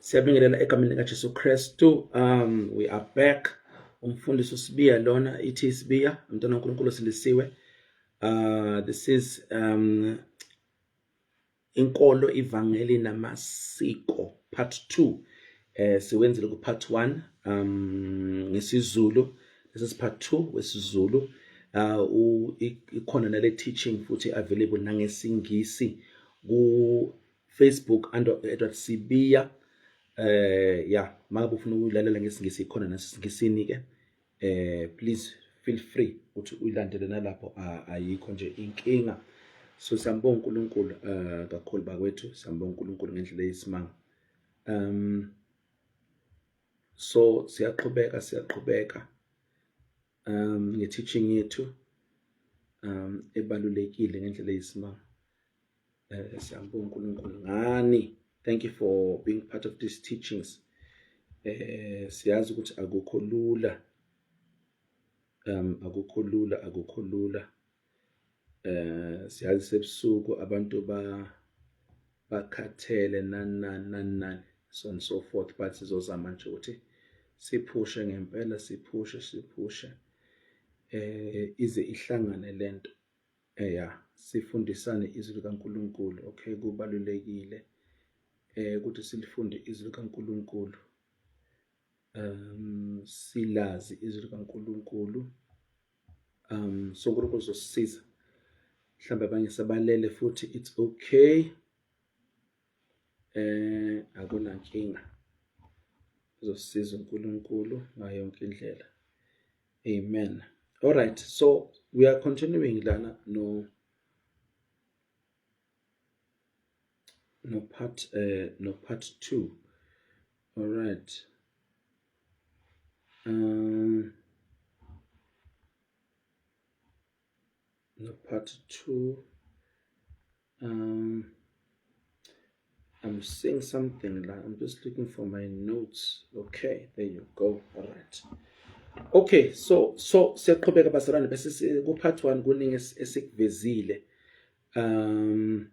siyabingelela egameni likajesu kristu um we are back umfundisi usibiya lona ithi isibiya mntwana unkulunkulu silisiwe uh, this is um inkolo ivangeli namasiko part 2 eh siwenzile ku part 1 um ngesizulu this is part 2 wesizulu uh ikhona nale teaching futhi available nangesingisi ku Facebook under Edward Sibiya eh ya makabe ufuna ukuyilalela ngesingisi ikhona nasingisini ke eh please feel free ukuthi uyilandele nalapho ayikho nje inkinga so sambonga uNkulunkulu eh kakhulu bakwethu sambonga uNkulunkulu ngendlela eyisimanga um so siyaqhubeka siyaqhubeka um nge-teaching yethu um ebalulekile ngendlela eyisimanga Eh, siyambonga uNkulunkulu ngani thank you for being part of these teachings eh siyazi ukuthi akukho lula um akukho lula akukho lula eh siyazi sebusuku abantu ba bakhathele nanani nanani so and so forth but sizozama nje ukuthi siphushe ngempela siphushe siphushe eh ize ihlangane lento Eya sifundisane izwi likaNkulunkulu okay kubalulekile eh ukuthi silifunde izwi likaNkulunkulu um silazi izwi likaNkulunkulu um so uNkulunkulu uzosisiza mhlawumbe abanye sabalele futhi it's okay Eh akunankinga. Uzosiza uNkulunkulu ngayo yonke indlela. Amen. All right. So we are continuing lana no no part uh, no part 2. All right. Um no part 2 Um, I'm seeing something la. I'm just looking for my notes. Okay, there you go. All right. Okay, so so siyaqhubeka bazalwane bese ku part 1 kuningi esikuvezile. Um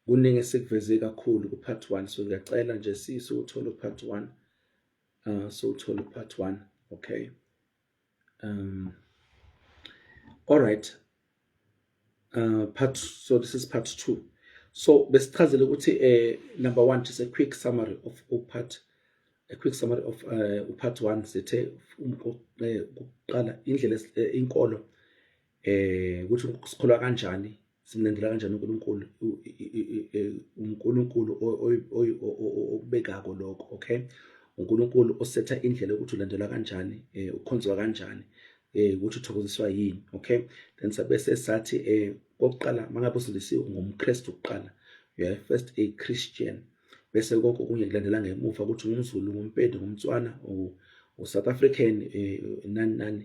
kuningi esikuveze kakhulu ku part 1 so ngiyacela nje sisi uthole part 1. Uh so uthole part 1. Okay. Um, all right. Uh, part so this is part 2. So besichazele ukuthi eh number 1 just a quick summary of part a quick summary of uh, part 1 sithe ukuqala indlela eh, inkolo eh ukuthi sikholwa kanjani simlandela kanjani uNkulunkulu uNkulunkulu okubekako lokho okay uNkulunkulu osetha indlela ukuthi ulandelwa kanjani eh, ukhonzwa kanjani eh, ukuthi uthokoziswa yini okay then sabe sesathi eh, kokuqala mangabe usindisiwe ngumKristu kuqala you are first a Christian bese konke okunye kulandela ngemuva ukuthi ngumZulu ngumpedi ngumtswana uSouth African nani nani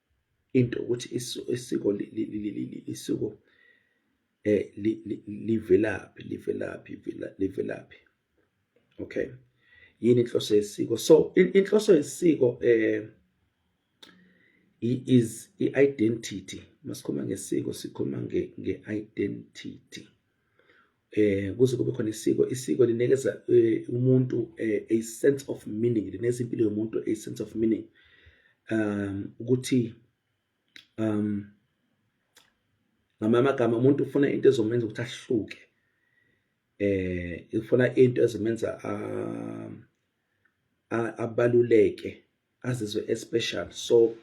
into ukuthi isiko isiko eh livelaphi livelaphi livelaphi okay yini inhloso yesiko so inhloso yesiko eh is i-identity masikhuluma ngesiko sikhuluma nge-identity eh kuze kube khona isiko isiko linikeza eh, umuntu eh, a sense of meaning lineza impilo yomuntu a sense of meaning um ukuthi um ngamanye amagama umuntu ufuna into ezomenza ukuthi ahluke eh ufuna into ezomenza um, abaluleke azizwe especial so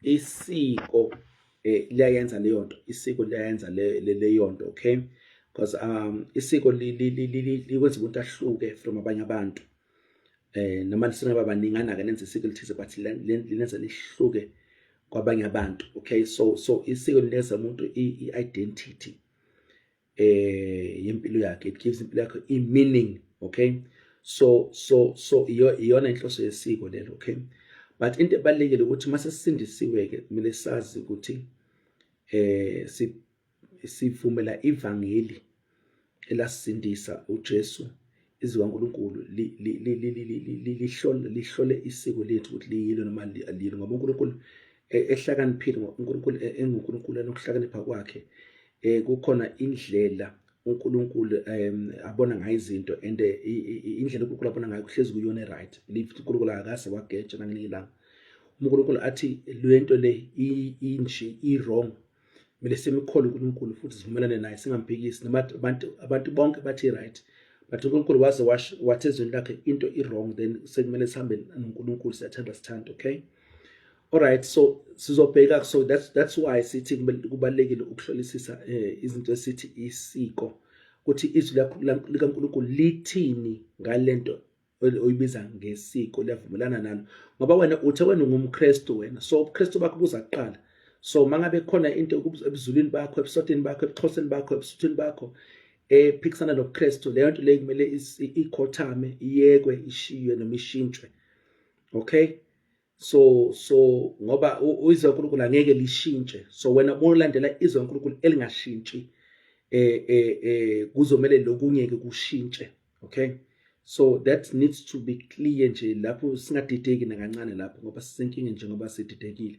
isiko eh, liyayenza leyo nto isiko liyayenza leyo nto okay because um isiko likwenza umuntu ahluke from abanye abantu eh noma singaba baningana ke nenze isiko lithize but lenza lihluke kwabanye abantu okay so so isiko lineza umuntu i-identity eh yempilo yakhe it gives impilo yakhe i meaning okay so so so iyona inhloso yesiko lelo okay but into ebalekile ukuthi mase sisindisiwe ke kumele sazi ukuthi eh si sivumela ivangeli elasindisa uJesu izwi kaNkulunkulu lihlole lihlole isiko lethu ukuthi liyilo noma aliyilo ngoba uNkulunkulu e, ehlakaniphile uNkulunkulu e, enguNkulunkulu anokuhlakanipha kwakhe eh kukhona indlela uNkulunkulu um abona ngayo izinto and eh, indlela uNkulunkulu abona ngayo kuhlezi kuyona eright lithi uNkulunkulu akase wageja nangelinye ilanga uNkulunkulu athi lento le inje i-wrong kumele simkhole uNkulunkulu futhi sivumelane naye singamphikisi noma abantu abantu bonke bathi right but uNkulunkulu waze washo wathi ezweni lakhe into i wrong then sekumele sihambe noNkulunkulu siyathanda sithanda okay all right so sizobheka so that's that's why sithi kubalekile ukuhlolisisa eh, izinto esithi isiko ukuthi izwi likaNkulunkulu lithini ngalento oyibiza ngesiko liyavumelana nalo ngoba wena uthe wena ungumKristu wena so ubuKristu bakho kuza kuqala so mangabe khona into ebuzulwini bakho ebusotini bakho ebuxhoseni bakho ebusuthini bakho ephikisana nobuKristu leyo nto leyo kumele ikhothame iyekwe ishiywe noma ishintshwe okay so so ngoba izwi laNkulunkulu angeke lishintshe so wena uma ulandela izwi laNkulunkulu elingashintshi eh eh eh kuzomele lokunye ke kushintshe okay so that needs to be clear nje lapho singadideki nakancane lapho ngoba sisenkinge njengoba sididekile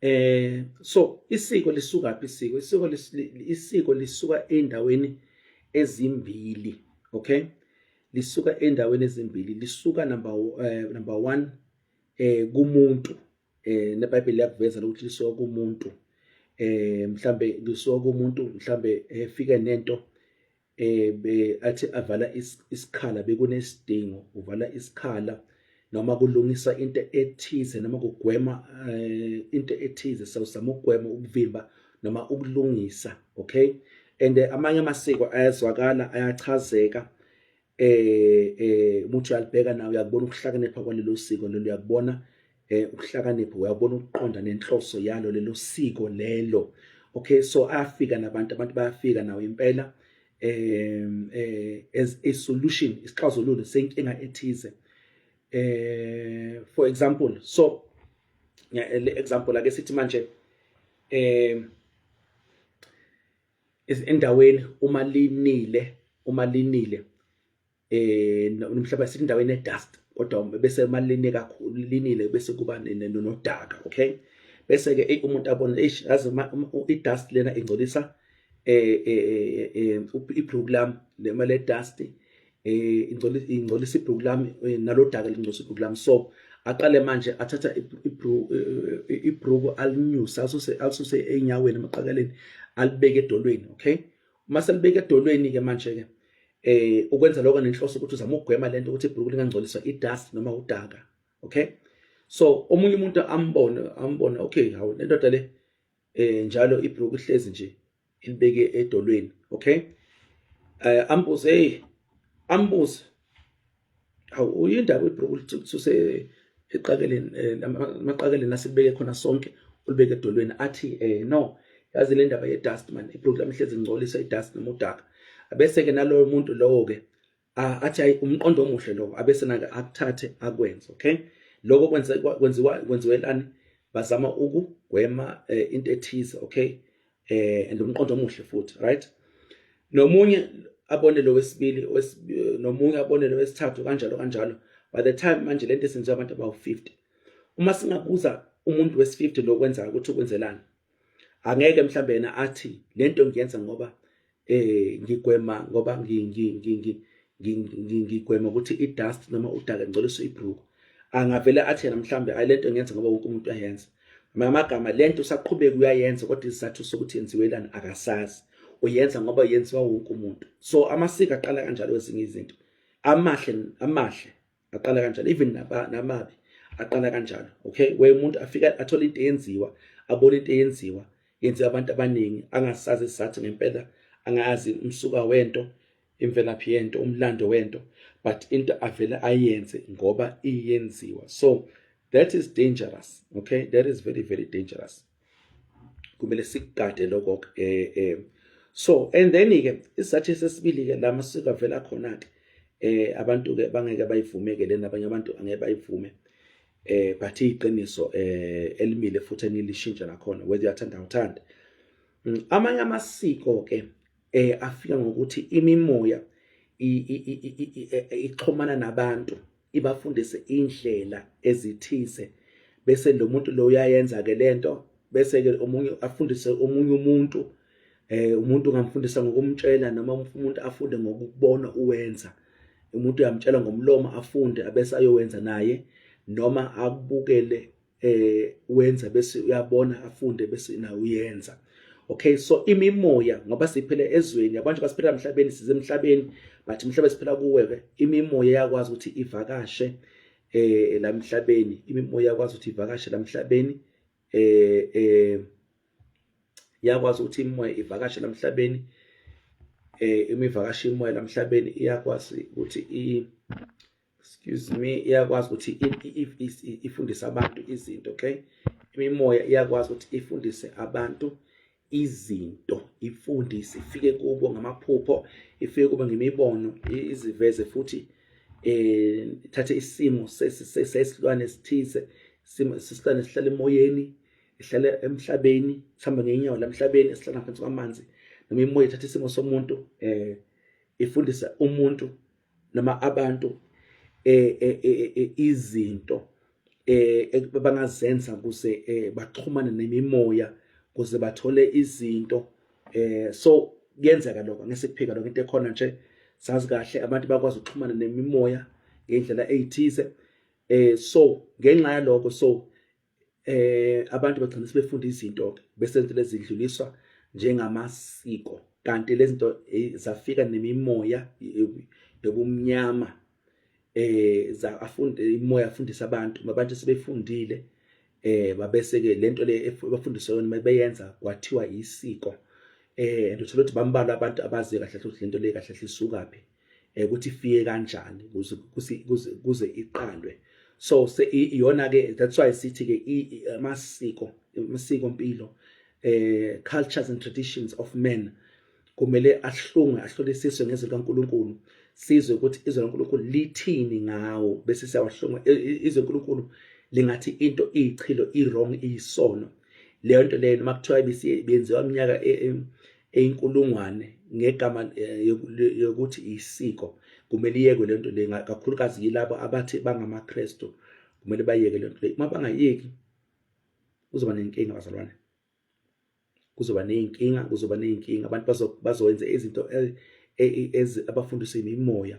eh so isiko lisuka phi isiko isiko isiko lisuka endaweni ezimbili okay lisuka endaweni ezimbili lisuka number eh, number 1 eh kumuntu eh neBhayibheli liyakuveza ukuthi lisuka kumuntu eh mhlambe lisuka kumuntu mhlambe efike eh, nento eh be athi avala isikhala bekunesidingo uvala isikhala noma kulungisa into ethize noma kugwema eh, into ethize sawusama ukugwema ukuvimba noma ukulungisa okay and eh, amanye amasiko ayazwakala ayachazeka eh eh umuntu uyalibheka nawe uyakubona ukuhlakanipha kwalelo siko lelo uyakubona eh ukuhlakanipha uyabona ukuqonda nenhloso yalo lelo siko lelo okay so afika nabantu abantu bayafika nawo impela um eh as a solution isixazululo senkinga ethize eh for example so le example ake sithi manje eh endaweni uma linile uma linile eh nomhlaba sithi indaweni edust kodwa bese malini kakhulu linile bese kuba nodaka okay bese ke umuntu abona eish yazi idust lena ingcolisa eh, eh, eh, eh ibhuku lami lema le dust eh ingcolisa ingcolisa ibhuku lami eh, nalodaka lingcolisa ibhuku lami so aqale manje athatha ibhuku alinyusa asuse asuse enyaweni emaqakaleni alibeke edolweni okay uma selibeke edolweni ke manje ke eh ukwenza lokho nenhloso ukuthi uzama ukugwema lento ukuthi ibhuku lingangcoliswa idust noma udaka okay so omunye umuntu ambone ambone okay hawu lendoda le eh njalo ibhuku ihlezi nje ilibeke edolweni okay eh ambuze hey ambuze awu uyindaba ibhuku lithuse eqakeleni eh, amaqakeleni asibeke khona sonke ulibeke edolweni athi eh no yazi le ndaba ye-dust man ibhuku lami hlezi ngcolisa i-dust noma udaka abese-ke naloyo muntu lowo-ke athi hayi umqondo omuhle lowo abese nake akuthathe akwenze okay lokho kwenziwa kwenziwelani bazama ukugwema eh, into ethize okay eh and umqondo omuhle futhi right nomunye abone lo wesibili nomunye abone lo wesithathu kanjalo kanjalo by the time manje lento esenziwa abantu abawu-50 uma singabuza umuntu wesi-50 lokwenzayo ukuthi ukwenzelani angeke mhlawumbe yena athi lento ngiyenza ngoba eh ngigwema ngoba ngigwema ukuthi i-dust noma udaka ngcoliso ibruku angavele athi yena mhlawumbe ayi lento ngenza ngoba wonke umuntu ayenza ngamagama lento usaqhubeka uyayenza kodwa isizathu sokuthi yenziwelani akasazi uyenza ngoba yenziwa wonke umuntu so amasiko aqala kanjalo ezinye izinto amahle amahle aqala kanjalo even namabi aqala kanjalo okay where umuntu afika athole into eyenziwa abone into eyenziwa yenziwa abantu abaningi angasazi sathi ngempela angazi umsuka wento imvelaphi yento umlando wento but into avele ayenze ngoba iyenziwa so that is dangerous okay that is very very dangerous kumele sikugade lokho eh eh so and then ke isizathu sesibili ke la masiko avela khona ke eh abantu ke bangeke bayivumeke lena abanye abantu angeke bayivume eh but iqiniso eh elimile futhi enilishintsha nakhona whether uyathanda uthanda mm, amanye amasiko ke eh afika ngokuthi imimoya ixhomana nabantu ibafundise indlela ezithize bese lo muntu lo uyayenza ke lento bese ke omunye afundise omunye umuntu eh umuntu ungamfundisa ngokumtshela noma umuntu afunde ngokubona uwenza umuntu uyamtshela ngomlomo afunde abese ayowenza naye noma akubukele eh wenza bese uyabona afunde bese na uyenza okay so imimoya ngoba siphele ezweni abantu basiphela emhlabeni size emhlabeni but umhlaba siphela kuwe ke imimoya yakwazi ukuthi ivakashe eh lamhlabeni imimoya yakwazi ukuthi ivakashe lamhlabeni eh eh yakwazi ukuthi imimoya ivakashe lamhlabeni eh imivakashe imoya lamhlabeni iyakwazi ukuthi i excuse me iyakwazi ukuthi ifundise abantu izinto okay imimoya iyakwazi ukuthi ifundise abantu izinto ifundise ifike kubo ngamaphupho ifike kubo ngemibono iziveze futhi eh thathe isimo sesilwane esithize isimo sesilwane sihlala emoyeni ihlala emhlabeni sihamba ngenyawo lamhlabeni esihlala phansi kwamanzi noma imoya ithatha isimo somuntu eh ifundisa umuntu noma abantu eh, eh, eh, izinto eh bangazenza kuze baxhumane nemimoya kuze bathole izinto eh so kuyenzeka lokho ngesikuphika lokho into ekhona nje sazi kahle abantu bakwazi ukuxhumana nemimoya ngendlela eyithize eh so ngenxa yaloko so eh abantu bagcina sebefunda izinto bese izinto lezidluliswa njengamasiko kanti lezinto eh, zafika nemimoya yobumnyama eh za afunde imoya afundisa abantu abantu sebefundile eh babese ke lento le bafundiswa yona mabeyenza kwathiwa isiko eh and uthola ukuthi bambalwa abantu abazi kahle ukuthi lento le kahle isuka phi eh, ukuthi ifike kanjani kuze iqalwe so iyona ke that's why sithi ke amasiko amasiko mpilo eh cultures and traditions of men kumele ahlungwe ahlolisiswe ngezwi likaNkuluNkulu sizwe ukuthi izwi likaNkuluNkulu lithini ngawo bese siyawahlungwa izwi likaNkuluNkulu lingathi into iyichilo iwrong iyisono leyo nto leyo noma kuthiwa bisiyenziwa iminyaka e, e, eyinkulungwane ngegama eh, yokuthi isiko kumele iyekwe lento le kakhulukazi yilabo abathi bangamaKristu kumele bayeke lento le uma bangayeki kuzoba nenkinga bazalwane kuzoba nezinkinga kuzoba nezinkinga abantu bazowenza izinto e, e, abafundiswe imimoya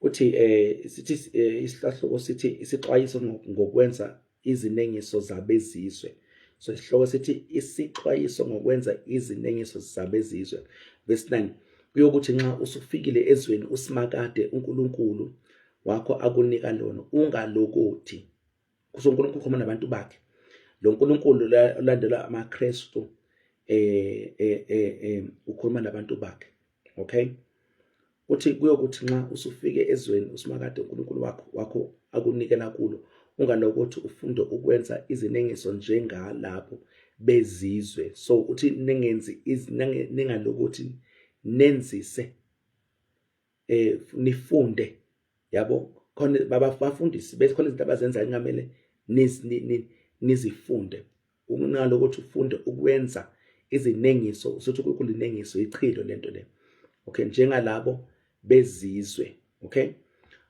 uthi eh sithi eh, isihlahluko sithi isixwayiso ngokwenza izinengiso zabezizwe so isihloko sithi isixwayiso ngokwenza izinengiso zabezizwe verse 9 kuyokuthi nxa usufikile ezweni usimakade uNkulunkulu wakho akunika lona ungalokothi kusho uNkulunkulu khoma nabantu bakhe lo nkulunkulu olandelwa amaKristu eh, eh eh eh ukhuluma nabantu bakhe okay uthi kuyokuthi nxa usufike ezweni usimakade uNkulunkulu wakho wakho akunikela kulo ungalokothi ufunde ukwenza izinengiso njengalapho bezizwe so uthi ningenzi ningalokothi nenzise eh nifunde yabo khona babafundisi bese khona izinto abazenzayo ngamele nizifunde ukunalo ukuthi ufunde ukwenza izinengiso usuthi kulinengiso ichilo lento le okay njengalabo bezizwe okay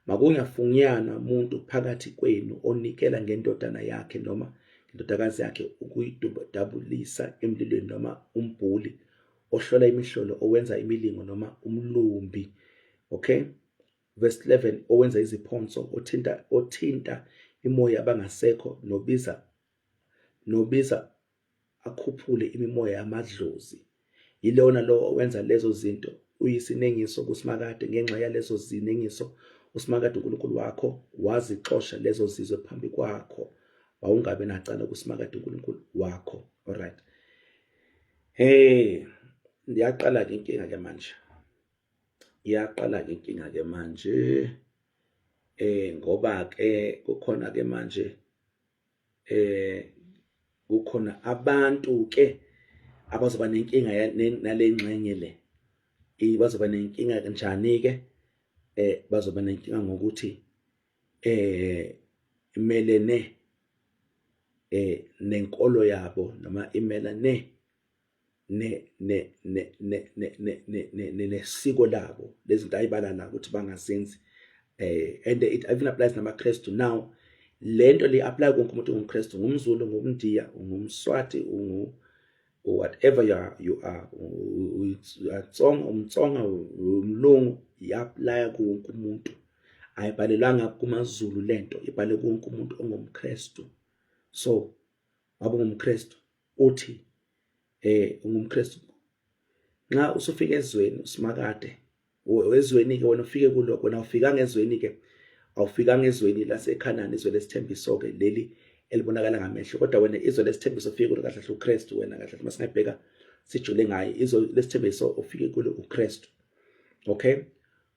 makungafunyanwa umuntu phakathi kwenu onikela ngendodana yakhe noma indodakazi yakhe ukuyidabulisa emlilweni noma umbhuli ohlola imihlolo owenza imilingo noma umlumbi okay verse 11 owenza iziphonso othinta othinta imoya abangasekho nobiza Nobiza akhuphule imimoya yamadlozi. Yilona lowo owenza lezo zinto. Uyisinengiso kuSimakade ngenxa yalezo zinengiso uSimakade uNkulunkulu wakho wazixosha lezo zizwe phambi kwakho. Wawungabe nacala kuSimakade uNkulunkulu wakho. Alright. Hey, yaqala ke inkinga ke manje. Yaqala ke inkinga ke manje. Eh ngoba ke kukhona ke manje eh kukhona abantu ke abazoba nenkinga nalengxenye le bazoba nenkinga kanjani ke eh bazoba nenkinga ngokuthi eh imelene eh nenkolo yabo noma imelane nesiko labo lezinto ayibalala ukuthi bangazenzi eh and it even applies namaKristu now lento li apply konke umuntu ongumKristu ngumZulu ngumNdiya ngumSwati ungu whatever you are you are uyatsonga umtsonga umlungu iyaplaya konke umuntu ayibhalelanga kumaZulu lento ibhale konke umuntu ongumKristu so wabungumKristu uthi eh ungumKristu nxa usufika ezweni usimakade wezweni ke wena ufike kuloko wena ufika ngezweni ke awufika ngezweni laseKhanani izwe lesithembiso ke leli elibonakala ngamehlo kodwa wena izwe lesithembiso ufike kulo kahle uKristu wena kahle uma singabheka sijule ngaye izwe lesithembiso ufike kulo uKristu okay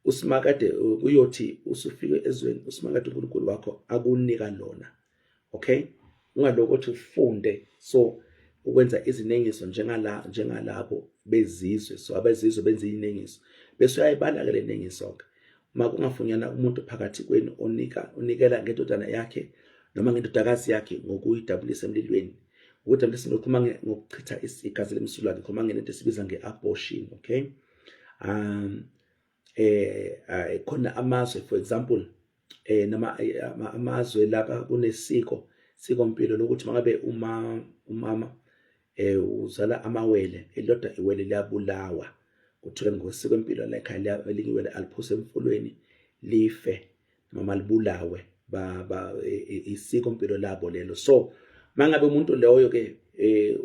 usimakade uyothi usufike ezweni usimakade uNkulunkulu wakho akunika lona okay ungaloko ukuthi ufunde so ukwenza izinengiso njengala njengalabo bezizwe so abezizwe benza izinengiso bese uyayibala ke le nengiso ke uma kungafunyana umuntu phakathi kwenu onika unikela ngendodana yakhe noma ngendodakazi yakhe ngokuyidabulisa emlilweni ukudabulisa ngikhuluma ngokuchitha igazi lemsulwa ngikhuluma ngento esibiza nge-abortion okay um eh ay khona amazwe for example eh nama eh, amazwe lapha kunesiko siko mpilo lokuthi mangabe uma umama eh uzala amawele elilodwa iwele liyabulawa kuthiwe ngosiko empilo lekhaya elinye iwele aliphuse emfulweni life noma libulawe ba, ba e, e, isiko impilo labo lelo so mangabe umuntu loyo ke eh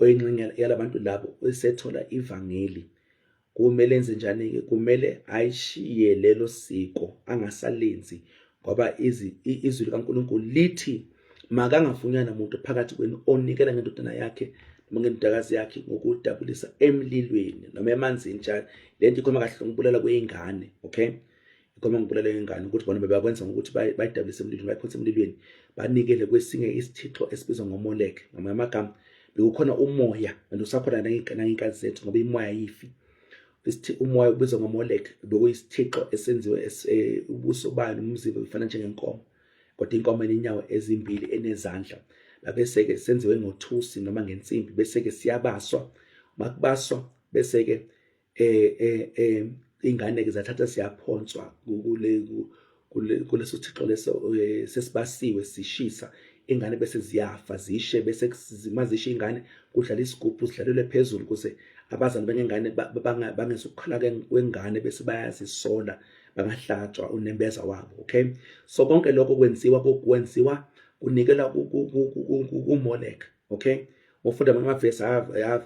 oyinxenye yalabantu labo esethola ivangeli kumele enze njani ke kumele ayishiye lelo siko angasalenzi ngoba izwi likaNkulunkulu lithi makangafunyana muntu phakathi kwenu onikela ngendodana yakhe noma ngendodakazi yakhe ngokudabulisa emlilweni noma emanzini njalo le nto ikhoma kahle ngokubulala kweyingane okay ikhoma ngokubulala kweyingane ukuthi bona bebakwenza ngokuthi bayidabulise emlilweni bayikhonse emlilweni banikele kwesinye isithixo esibizwa ngomoleke ngamanye amagama bekukhona umoya and usakhona nangey'nkathi zethu ngoba imoya yifi isithi umoya ubizwa ngomolek bekuyisithixo esenziwe eh, ubuso bayo nomzimba befana njengenkomo kodwa inkomo enenyawo ezimbili enezandla babese-ke senziwe ngothusi noma ngensimbi bese-ke siyabaswa uma kubaswa bese-ke um um um iy'ngane-ke zathatha siyaphonswa kuleso thixo leso eh, sesibasiwe sishisa ingane bese ziyafa zishe bese zimazishe ingane kudlala isigubhu sidlalelwe phezulu kuze abazali bengengane bangezukukhala kwengane bese bayazisola bangahlatshwa unembeza wabo okay so konke lokho kwenziwa kwenziwa kunikela kuMolek okay ngofunda amavesi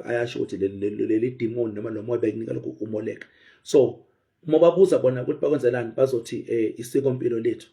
ayasho ukuthi leli demon noma lo moya bekunikela kuMolek so uma babuza bona ukuthi bakwenzelani bazothi um isiko mpilo lethu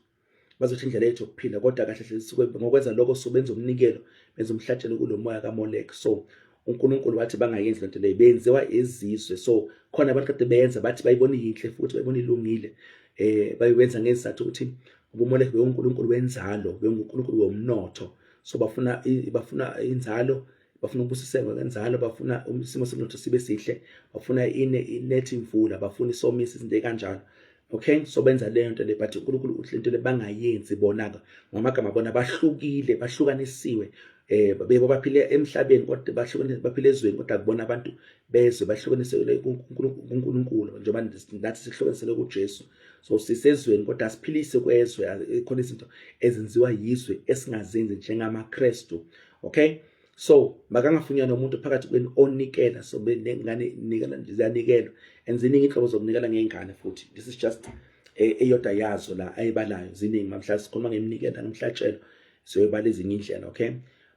bazothi indlela yethu yokuphila kodwa kahle hle sisuke ngokwenza lokho so benza umnikelo benza umhlatshelo kulo moya kamolek so unkulunkulu wathi bangayenzi lento leyo benziwa izizwe so khona abantu kade beyenza bathi bayibona yinhle futhi bayibona ilungile eh bayiwenza ngezizathu ukuthi ubumolek bewunkulunkulu wenzalo bewunkulunkulu womnotho so bafuna bafuna inzalo bafuna ubusisekwe ngenzalo bafuna isimo somnotho sibe sihle bafuna ine inethi imvula bafuna isomisa izinto ekanjalo okay so benza leyo nto le but uNkulunkulu uthi lento le bangayenzi bonaka ngamagama bona bahlukile bahlukanisiwe eh bebo baphile emhlabeni kodwa bahlukanisiwe baphile ezweni kodwa kubona abantu bezwe bahlukanisiwe kuNkulunkulu njengoba nathi sihlukanisele kuJesu so sisezweni kodwa siphilise kwezwe khona izinto ezenziwa yizwe esingazenzi njengamaKristu okay so makangafunyana umuntu phakathi kwenu onikela so benengane nikela ziyanikelwa and ziningi inhlobo zokunikela ngey'ngane futhi this is just e, eyodwa yazo la ayibalayo ziningi mamhla sikhuluma ngeminikela ngomhlatshelo siyoyibala ezinye indlela okay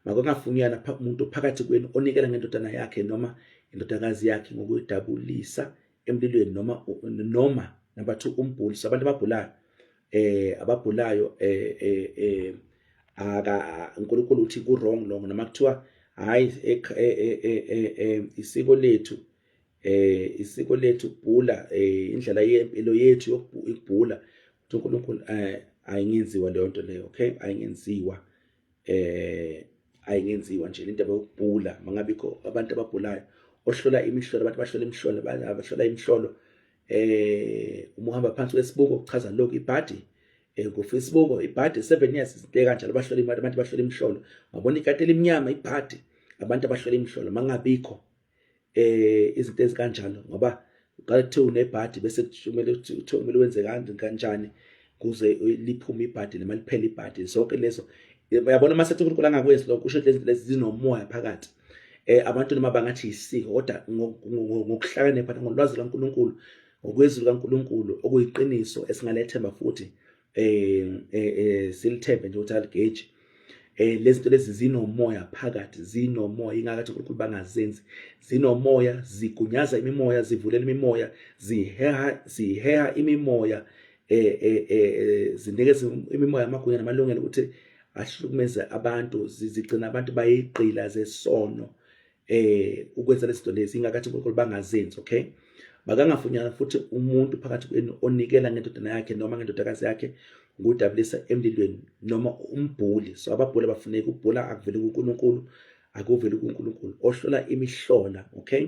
makangafunyana umuntu phakathi kwenu onikela ngendodana yakhe noma indodakazi yakhe ngokuyidabulisa emlilweni noma noma number 2 umbhuli sabantu ababhulayo eh ababhulayo eh eh, eh aka uNkulunkulu uthi ku wrong long noma kuthiwa hayi eh, eh, eh, isiko lethu eh isiko lethu kubhula eh indlela yempilo yethu yokubhula uNkulunkulu eh ayingenziwa leyo nto leyo okay ayingenziwa eh ayingenziwa nje le ndaba yokubhula mangabikho abantu ababhulayo ohlola imihlolo abantu bahlola imihlolo abahlola imihlolo eh uma uhamba phansi kwesibuko kuchaza lokho ibhadi eh kufisibuko ibhadi 7 years izinto kanjalo bahlola imali abantu bahlola imihlolo ngabona ikati elimnyama ibhadi abantu abahlola imihlolo mangabikho eh izinto ezikanjalo ngoba uqala kuthiwa unebhadi bese kumele kuthiwa kumele wenze kanjani kuze liphume ibhadi noma liphele ibhadi zonke lezo uyabona uma sethi uNkulunkulu angakwenzi lokho usho lezi lezi zinomoya phakathi eh abantu noma bangathi isiko kodwa ngokuhlakanipha ngolwazi kaNkuluNkulu ngokwezwi kaNkuluNkulu okuyiqiniso esingalethemba futhi eh, eh, eh silithembe nje ukuthi aligeji eh lezi zinto lezi zinomoya phakathi zinomoya ingakathi uNkulunkulu bangazenzi zinomoya zigunyaza imimoya zivulela imimoya ziheha ziheha imimoya eh eh, eh, eh zinikeza imimoya amagunya namalungelo ukuthi ahlukumeze abantu zigcina abantu bayigqila zesono eh ukwenza lezinto lezi ingakathi uNkulunkulu bangazenzi okay bakangafunyana futhi umuntu phakathi kwenu onikela ngendodana yakhe noma ngendodakazi yakhe ngudabulisa emlilweni noma umbhuli so ababhuli abafuneki ubhula akuveli kuNkulunkulu akuveli kuNkulunkulu ohlola imihlola okay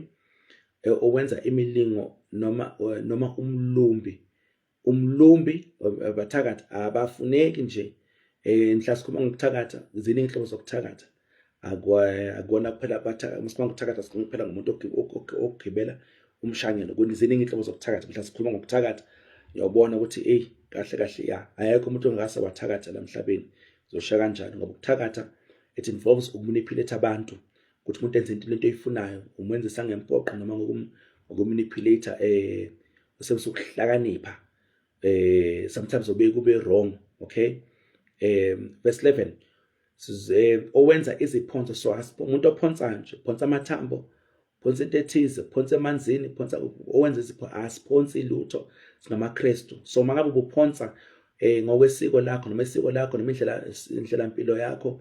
eh, owenza imilingo noma eh, noma umlumbi umlumbi abathakathi abafuneki nje eh mhla sikhuluma ngokuthakatha ziningi inhlobo zokuthakatha akona kuphela abathakatha masikhuluma ngokuthakatha sikhuluma kuphela ngomuntu ogibela umshanyelo ziningi inhlobo zokuthakatha mhla sikhuluma ngokuthakatha uyawubona ukuthi ey kahle kahle ya ayekho umuntu ongase wathakatha la mhlabeni zosha kanjani ngoba ukuthakatha it involves ukumanipulate abantu ukuthi umuntu enze into lento oyifunayo umenzisa ngempoqo noma ngokumanipulate eh usebenzisa ukuhlakanipha eh sometimes obeke ube wrong okay eh verse 11 size owenza iziphonso so umuntu ophonsa nje phonsa amathambo phonsa into ethize phonsa emanzini phonsa owenza izipho asiphonsi lutho singamaKristu so mangabe ubuphonsa eh ngokwesiko lakho noma isiko lakho noma indlela indlela impilo yakho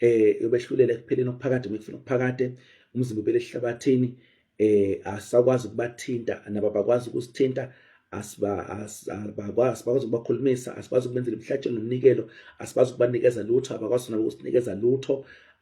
eh yobehlulela ekupheleni okuphakade mekufuna okuphakade umzimba ubele ehlabathini eh asakwazi ukubathinta nabo bakwazi ukusithinta asiba asibakwazi bakwazi ukubakhulumisa asikwazi ukubenzela imihlatshelo nomnikelo asikwazi ukubanikeza lutho abakwazi nabo ukusinikeza lutho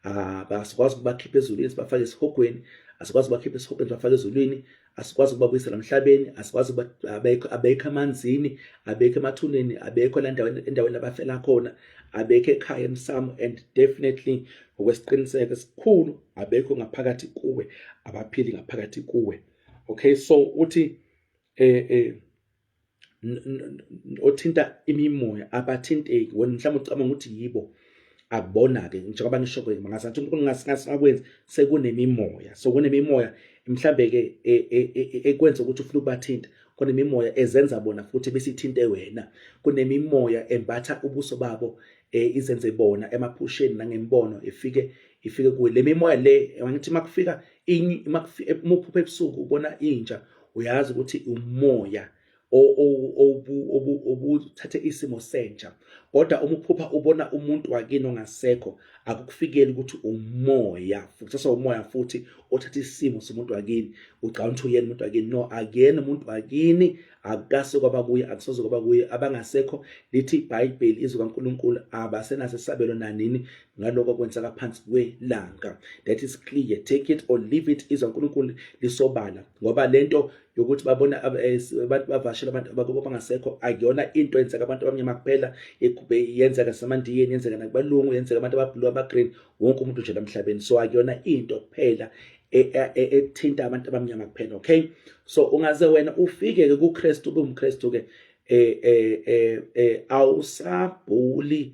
abasikwazi ah, ukubakhipha ezulwini sibafake esihogweni asikwazi ukubakhipha esihogweni sibafake ezulwini asikwazi ukubabuyisela emhlabeni asikwazi abekho abekho amanzini abekho emathuneni abekho la ndaweni endaweni abafela khona abekho ekhaya emsamo and definitely ngokwesiqiniseko esikhulu abekho ngaphakathi kuwe abaphili ngaphakathi kuwe okay so uthi eh eh othinta imimoya abathinteki wena mhlawumbe ucabanga ukuthi yibo akubona-ke njengoba ngisho-ke ngazathi unkulunkulu ngasingakwenzi sekunemimoya so kunemimoya mhlawumbe-ke e, e, e, ekwenza ukuthi ufuna ukubathinta kunemimoya ezenza bona futhi besithinte wena kunemimoya embatha ubuso babo eh izenze bona emaphusheni nangembono ifike ifike kuwe le mimoya le ngithi makufika uma uphupha ebusuku ubona inja uyazi ukuthi umoya obuthathe isimo senja kodwa uma uphupha ubona umuntu wakini ongasekho akukufikeli ukuthi umoya futhi sawumoya futhi othatha isimo somuntu wakini ucabanga ukuthi uyena umuntu wakini no akuyena umuntu wakini akukase kwaba kuye akusoze kwaba kuye abangasekho lithi ibhayibheli izwi kaNkuluNkulu abasenaso isabelo nanini ngaloko kwenzeka phansi kwelanga that is clear take it or leave it izwa uNkulunkulu lisobala ngoba lento yokuthi babona eh, abantu bavashela abantu abakubo bangasekho akuyona into yenzeka abantu abamnyama kuphela yenzeka samandiyeni yenzeka nakubalungu yenzeka abantu abablue abagreen wonke umuntu nje emhlabeni so akuyona into kuphela e, e, e, ethinta abantu abamnyama kuphela okay so ungaze wena ufike ke kuKristu ubumkristu ke eh eh eh awusabhuli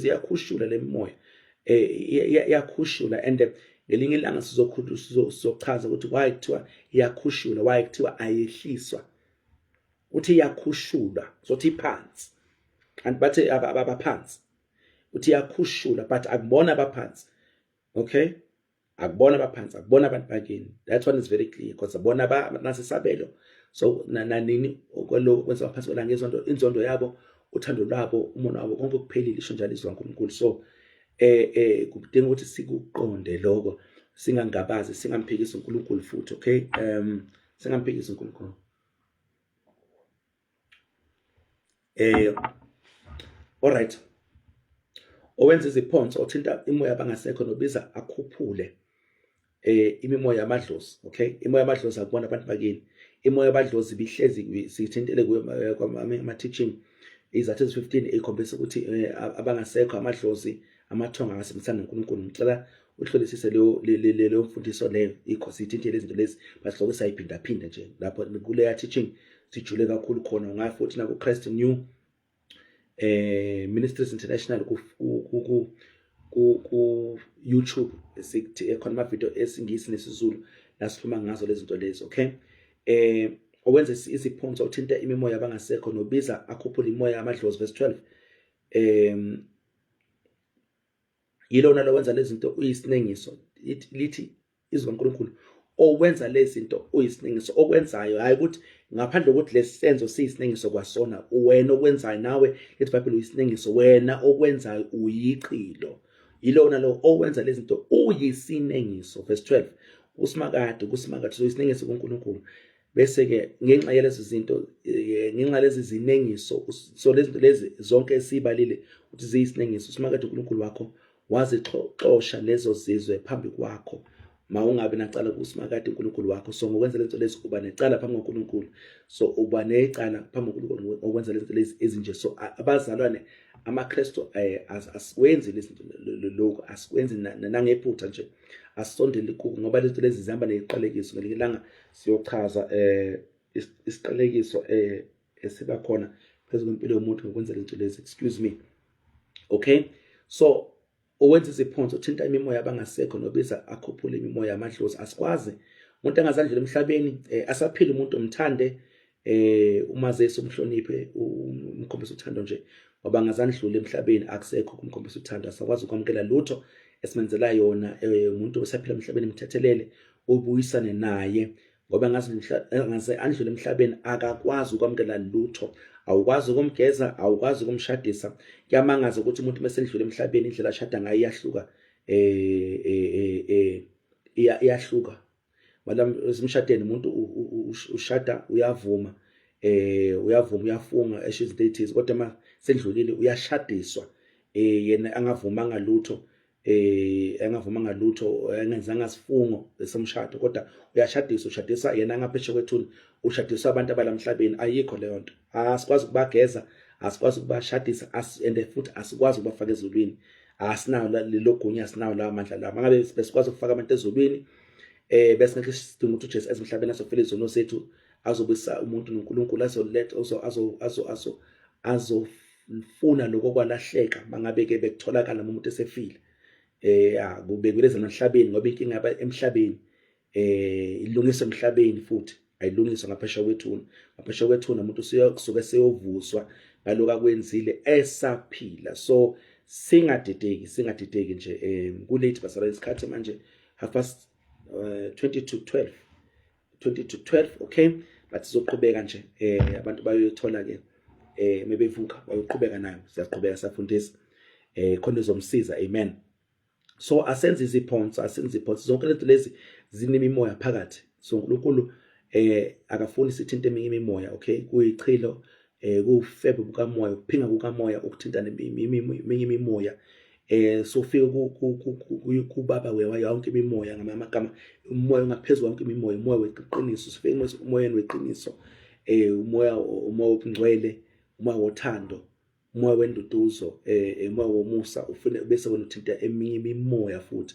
ziyakhushula le mimoya iyakhushula eh, and ngelinye ilanga sizochaza ukuthi why kuthiwa iyakhushula why kuthiwa ayehliswa uthi iyakhushulwa sothi iphansi kanti bathe abaphansi uthi iyakhushula but akubona abaphansi okay akubona abaphansi akubona abantu bakini that one is very clear because bona banasisabelo so nanini okwelo kwenza abaphansi kwelanga izonto inzondo yabo uthando lwabo umona wabo konke kuphelile isho njalo izwi laNkulunkulu so eh eh kudinga ukuthi sikuqonde lokho singangabazi singamphikisi uNkulunkulu futhi okay um singamphikisi uNkulunkulu eh alright owenza iziphonso othinta imoya abangasekho nobiza akhuphule eh imimoya yamadlozi okay imoya yamadlozi akubona abantu bakini imoya yamadlozi bihlezi sithintele kuyo ama teaching izathu ezi-15 ikhombisa ukuthi eh, abangasekho amadlozi amathonga angasebenzisana noNkulunkulu ngicela uhlolisise leyo leyo mfundiso leyo ikho sithinthe lezi zinto lezi basihloko sayiphinda phinda nje lapho kuleya teaching sijule kakhulu khona ngayo futhi naku Christ New eh Ministries International ku ku ku YouTube esithi ekhona ama video esingisi nesizulu la sikhuluma ngazo lezi zinto lezi okay eh owenza isiphonso uthinta imimoya abangasekho nobiza akhuphula imoya amadlozi verse 12 em yilona lowenza lezinto uyisinengiso lithi izwi kaNkulunkulu owenza lezinto uyisinengiso okwenzayo hayi ukuthi ngaphandle kokuthi lesenzo siyisinengiso kwasona wena okwenzayo nawe lithi bible uyisinengiso wena okwenzayo uyiqilo yilona lo owenza lezinto uyisinengiso verse 12 usimakade kusimakade so isinengiso kuNkulunkulu bese-ke ngenxa yalezo zinto eh, ngenxa lezi zinengiso so lezi zinto lezi zonke esiyibalile ukuthi ziyisinengiso usimakade unkulunkulu wakho wazixosha lezo zizwe phambi kwakho ma ungabi nacala kusimakade unkulunkulu wakho so ngokwenza lento lezi uba necala phambi kwankulunkulu so uba necala phambi kwankulunkulu ngokwenza lento lezi ezinje so abazalwane amakristu eh, asikwenzi lokhu asikwenzi nanangephutha nje asisondeli kuko ngoba lento lezi zihamba neqalekiso ngelinye ilanga siyochaza eh isiqalekiso eh esiba khona phezulu impilo yomuntu ngokwenza lento lezi excuse me okay so owenza iziphonso uthinta imimoya abangasekho nobiza akhuphule imimoya amadlozi asikwazi umuntu angazandlela emhlabeni eh, asaphila umuntu omthande eh umazisi umhloniphe umkhombisa uthando nje ngoba ngazandlula emhlabeni akusekho kumkhombisa uthando asakwazi ukwamukela lutho esimenzela yona eh, umuntu osaphila emhlabeni mthethelele ubuyisane naye ngoba ngaze ngaze andlule emhlabeni akakwazi ukwamukela lutho awukwazi ukumgeza awukwazi ukumshadisa kuyamangaza ukuthi umuntu mesendlule emhlabeni indlela ashada ngayo iyahluka eh eh eh, eh iyahluka madam esimshadeni umuntu ushada uyavuma eh uyavuma uyafunga esho izinto ezithize kodwa uma sendlulile uyashadiswa eh yena angavumanga lutho eh engavumanga lutho engenzanga sifungo esemshado kodwa uyashadisa ushadisa yena angapheshe kwethuni ushadisa abantu abalamhlabeni ayikho leyo nto asikwazi ukubageza asikwazi ukubashadisa and futhi asikwazi ukubafaka ezulwini asinawo lelo gunya asinawo lawo mandla lawo mangabe besikwazi ukufaka abantu ezulwini eh bese ngeke sidinga ukuthi uJesu ezimhlabeni azofela izono sethu azobisa umuntu noNkulunkulu azoletha azo azo azo azofuna lokho kwalahleka mangabe ke bekutholakala umuntu esefile eh akubekwe lezemhlabeni ngoba inkinga emhlabeni eh ilungiswe emhlabeni futhi ayilungiswa ngaphesha kwethuna ngaphesha kwethuna umuntu usuke seyovuswa ngaloku akwenzile esaphila so singadideki singadideki nje um kulate basala isikhathi manje half past uh, 20 to 12 20 to 12 okay but sizoqhubeka nje eh abantu bayothola ke eh mebevuka bayoqhubeka nayo siyaqhubeka safundisa eh khona izomsiza amen so asenze iziphonsi asenze iziphonsi zonke lento lezi zinemimoya phakathi so uNkulunkulu eh akafuni sithinte eminye imimoya okay kuyichilo eh kufebe bukamoya ukuphinga kukamoya ukuthinta neminye imimoya eh sofika kubaba wewa yonke imimoya ngamagama umoya ongaphezulu wonke imimoya umoya weqiniso sifike emoyeni weqiniso eh umoya umoya obungcwele umoya wothando umoya wenduduzo eh umoya womusa ufune bese wena uthinta eminye imimoya futhi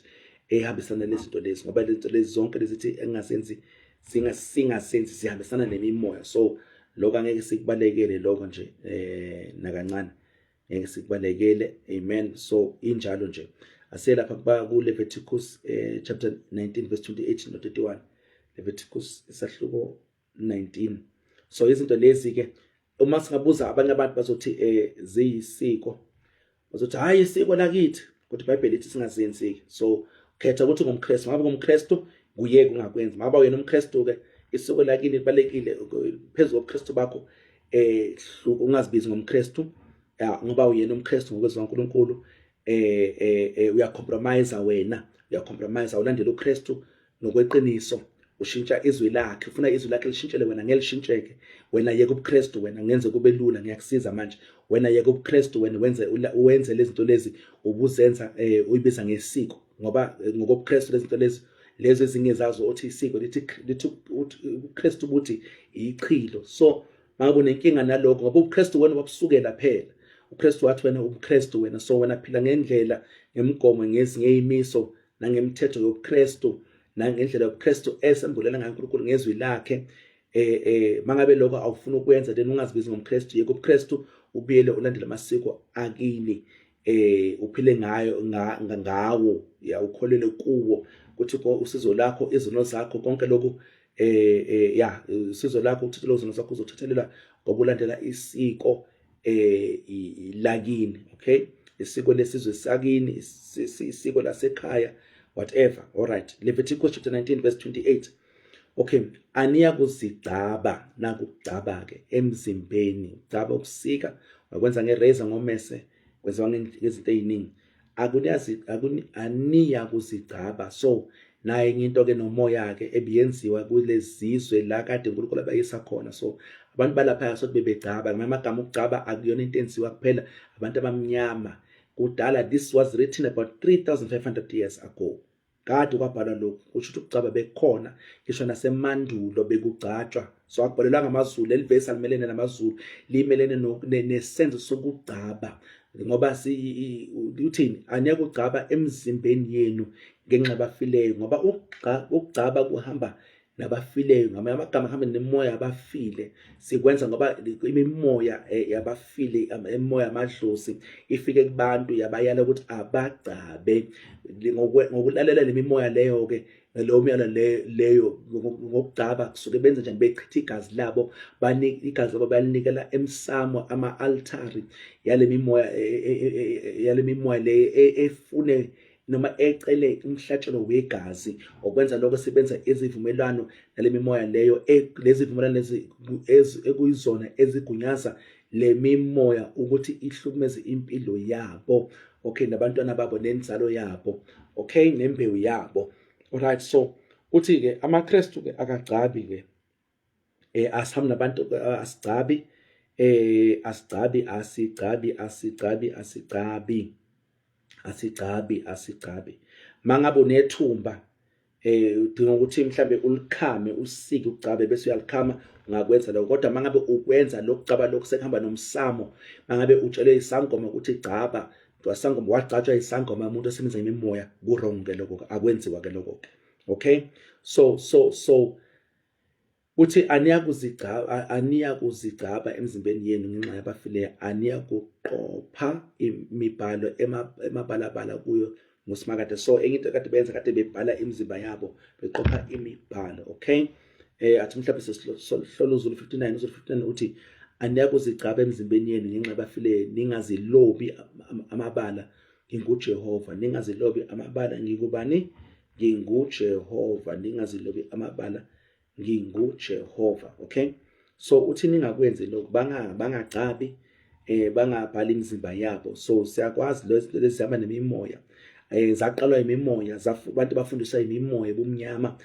ehambisana lezinto lezi ngoba lezinto lezi zonke lezithi engasenzi singa singasenzi sihambisana nemimoya so lokho angeke sikubalekele lokho nje eh nakancane ngeke sikubalekele amen so injalo nje aselapha kuba ku Leviticus eh chapter 19 verse 28 no 31 Leviticus isahluko 19 so izinto lezi ke uma singabuza abanye abantu bazothi eh ziyisiko bazothi hayi isiko lakithi kodwa iBhayibheli lithi singazenzi ke so khetha ukuthi ngumKristu ngabe ngumKristu kuyeke ungakwenzi maba wena umKristu ke isiko lakini libalekile phezulu kobuKristu bakho eh ungazibizi ngomKristu ngoba uyena umKristu ngokwezwa uNkulunkulu eh eh, eh uya compromise wena uya compromise awulandela uKristu nokweqiniso ushintsha izwi lakhe ufuna izwi lakhe lishintshele wena ngelishintsheke wena yeke ubuKristu wena ngenze kube lula ngiyakusiza manje wena yeke ubuKristu wena wenze wenze lezinto lezi ubuzenza eh uyibiza ngesiko ngoba eh, ngokobuKristu lezinto lezi lezi ezinye zazo othi isiko lithi lithi uKristu ukuthi ichilo so Babu nenkinga nalokho ngoba ubuKristu wena wakusukela phela. UKristu wathi wena ubuKristu wena so wena phila ngendlela ngemigomo ngezinye imiso nangemithetho yobuKristu nangendlela yobuKristu esembulela ngayo uNkulunkulu ngezwi lakhe eh eh mangabe lokho awufuna ukwenza then ungazibizi ngomKristu yeke ubuKristu ubuyele ulandele amasiko akini eh uphile ngayo ngawo ya ukholele kuwo kuthi usizo lakho izono zakho konke lokhu eh, eh ya usizo lakho uthathe lozo zakho uzothethelela ngokulandela isiko eh lakini okay isiko lesizwe sakini isiko lasekhaya whatever all right Leviticus chapter 19 verse 28 Okay, aniya kuzigcaba naku ukugcaba ke emzimbeni, ugcaba ukusika, wakwenza ngerazor ngomese, kwenziwa ngezinto eziningi. Akuniyazi akuni aniya kuzigcaba. So naye into ke nomoya ke ebiyenziwa kulezizwe la kade uNkulunkulu abayisa khona. So abantu balapha sothi bebegcaba, ngamanye amagama ukugcaba akuyona into enziwa kuphela abantu abamnyama. Kudala this was written about 3500 years ago. kade kwabhalwa lokhu kusho ukuthi ukugcaba bekukhona ngisho nasemandulo bekugcatshwa so akubhalelwa ngamazulu leli vesi alimelene namazulu limelene nesenzo sokugcaba ngoba uthini angeke ugcaba emzimbeni yenu ngenxa bafileyo ngoba ukugcaba kuhamba nabafileyo ngamanye amagama hambe nemoya abafile sikwenza ngoba imimoya eh, yabafile imoya amadlozi ifike kubantu yabayala ukuthi abagcabe ngokulalela lemimoya leyo ke leyo myala leyo ngokugcaba kusuke benze njani bechitha igazi labo banika igazi labo balinikela emsamo ama-altari yale mimoya e, e, e, yale mimoya le efune noma ecele umhlatshelo wegazi okwenza lokho sebenza izivumelwano nale mimoya leyo e, lezi vumelwano ekuyizona ezigunyaza le mimoya ukuthi ihlukumeze impilo yabo okay nabantwana babo nenzalo yabo okay nembewu yabo alright so uthi ke amaKristu ke akagcabi ke eh asihambi nabantu eh, asigcabi eh asigcabi asigcabi asigcabi asigcabi asigcabi asigcabi mangabe unethumba eh udinga ukuthi mhlambe ulikhame usike ugcabe bese uyalikhama ungakwenza lokho kodwa mangabe ukwenza lokucaba lokho sekuhamba nomsamo mangabe utshele isangoma ukuthi gcaba wasangoma wagcatshwa isangoma umuntu osebenza imimoya ku wrong ke lokho akwenziwa ke lokho okay so so so Uthi aniyakuzigcaba aniyakuzigcaba emzimbeni yenu ngenxa yabafileyo aniyakuqopha imibhalo emabalabala kuyo ngusimakade so enye into kade benza kade bebhala imizimba yabo beqopha imibhalo okay eh athi mhlawumbe sesihlolo uzulu 59 uzulu 59 uthi aniyakuzigcaba emzimbeni yenu ngenxa yabafileyo ningazilobi amabala nginguJehova ningazilobi amabala ngikubani nginguJehova ningazilobi amabala nginguJehova okay so uthi ningakwenzi lokho banga bangagcabi eh bangabhali imizimba yabo so siyakwazi lezihamba nemimoya eh zaqalwa imimoya abantu bafundiswa imimoya bumnyama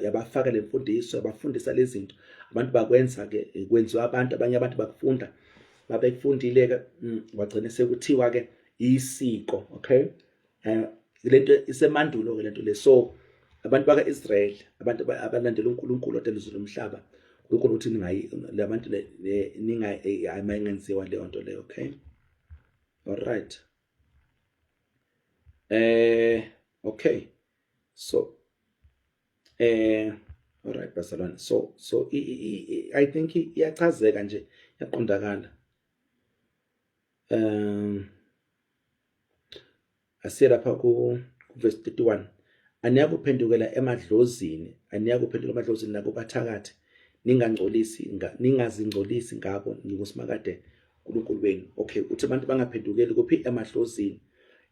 yabafaka le mfundiso yabafundisa lezi zinto abantu bakwenza ke eh, kwenziwa abantu abanye abantu bakufunda babekufundile-ke mm, wagcine sekuthiwa-ke isiko okay eh lento isemandulo ke lento le so abantu baka Israel abantu abalandela uNkulunkulu odelizwe umhlaba uNkulunkulu uthi ningayi labantu ninga ayingenziwa eh, leyo nto leyo okay all right eh okay so eh all right basalwane so so i, i, i, i think iyachazeka nje yaqondakala um asiye lapha ku verse 31 aniyakuphendukela emadlozini aniyakuphendukela emadlozini nakubathakathi ningangcolisi ningazingcolisi ngabo ngingusimakade uNkulunkulu wenu okay uthi abantu bangaphendukeli kuphi emadlozini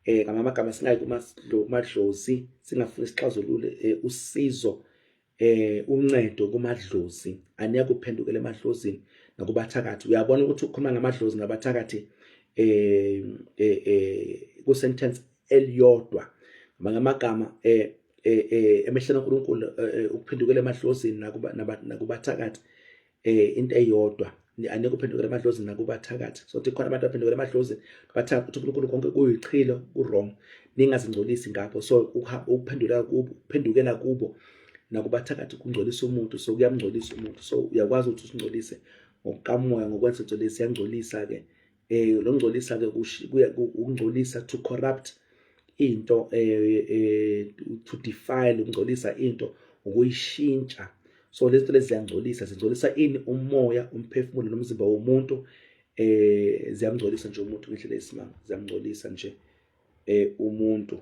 eh ngamagama singayi kumadlozi singafuni sixazulule eh, usizo eh uncedo kumadlozi aniya kuphendukela emadlozini nakubathakathi uyabona ukuthi ukhuluma ngamadlozi nabathakathi eh eh, eh ku sentence eliyodwa ngamagama eh, eh, eh emehlweni kaNkuluNkulu eh, ukuphendukela emadlozini nakuba nakubathakathi eh into eyodwa anike uphendukela emadlozini nakubathakathi so thi khona abantu abaphendukela emadlozini bathaka ukuthi uNkulunkulu konke kuyichilo kurong ningazingcolisi ngakho so ukuphendula kubo uphendukela kubo nakubathakathi kungcolisa umuntu so kuyamngcolisa umuntu so uyakwazi ukuthi usingcolise ngokukamoya ngokwenza into lesi yangcolisa ke eh longcolisa ke ukungcolisa to corrupt into eh, eh to defile ukungcolisa into ukuyishintsha so lezinto lezi ziyangcolisa zingcolisa ini umoya umphefumulo nomzimba womuntu eh ziyamngcolisa nje umuntu ngendlela yesimanga ziyamngcolisa nje eh umuntu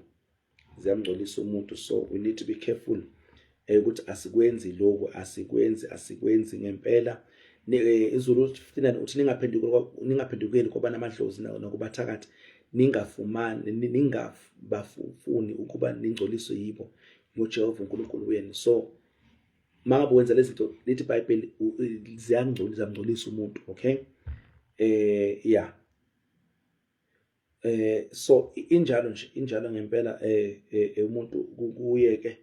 ziyamngcolisa umuntu so we need to be careful eh, ukuthi asikwenzi lokhu asikwenzi asikwenzi ngempela eh, izulu 59 uthi ningaphendukeli kwabana amadlozi nakubathakathi ningafumani ningabafuni ukuba ningcoliswe yibo ngojehova unkulunkulu wenu so mangabe wenza lezi zinto lithi ibhayibheli ziyangcolisa ziyamngcolisa umuntu okay eh ya yeah. eh so injalo nje injalo ngempela eh, eh, eh umuntu kuye ke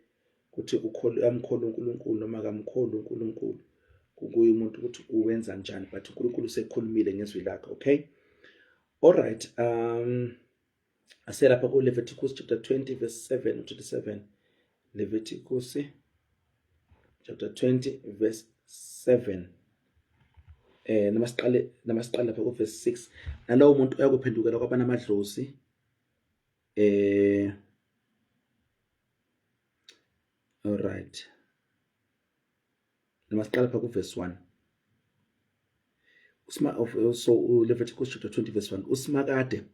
ukuthi ukhole amkhole uNkulunkulu noma kamkhole uNkulunkulu kukuye umuntu ukuthi uwenza njani but uNkulunkulu usekhulumile ngezwi lakhe okay all right um aselapha ku Leviticus chapter 20 verse 7 to 27 Leviticus chapter 20 verse 7 eh noma siqale noma siqale lapha kuverse 6 nalowo muntu uyakuphendukela kwabana amadlozi eh all right noma siqale lapha kuverse 1 usma of so Leviticus chapter 20 verse 1 usmakade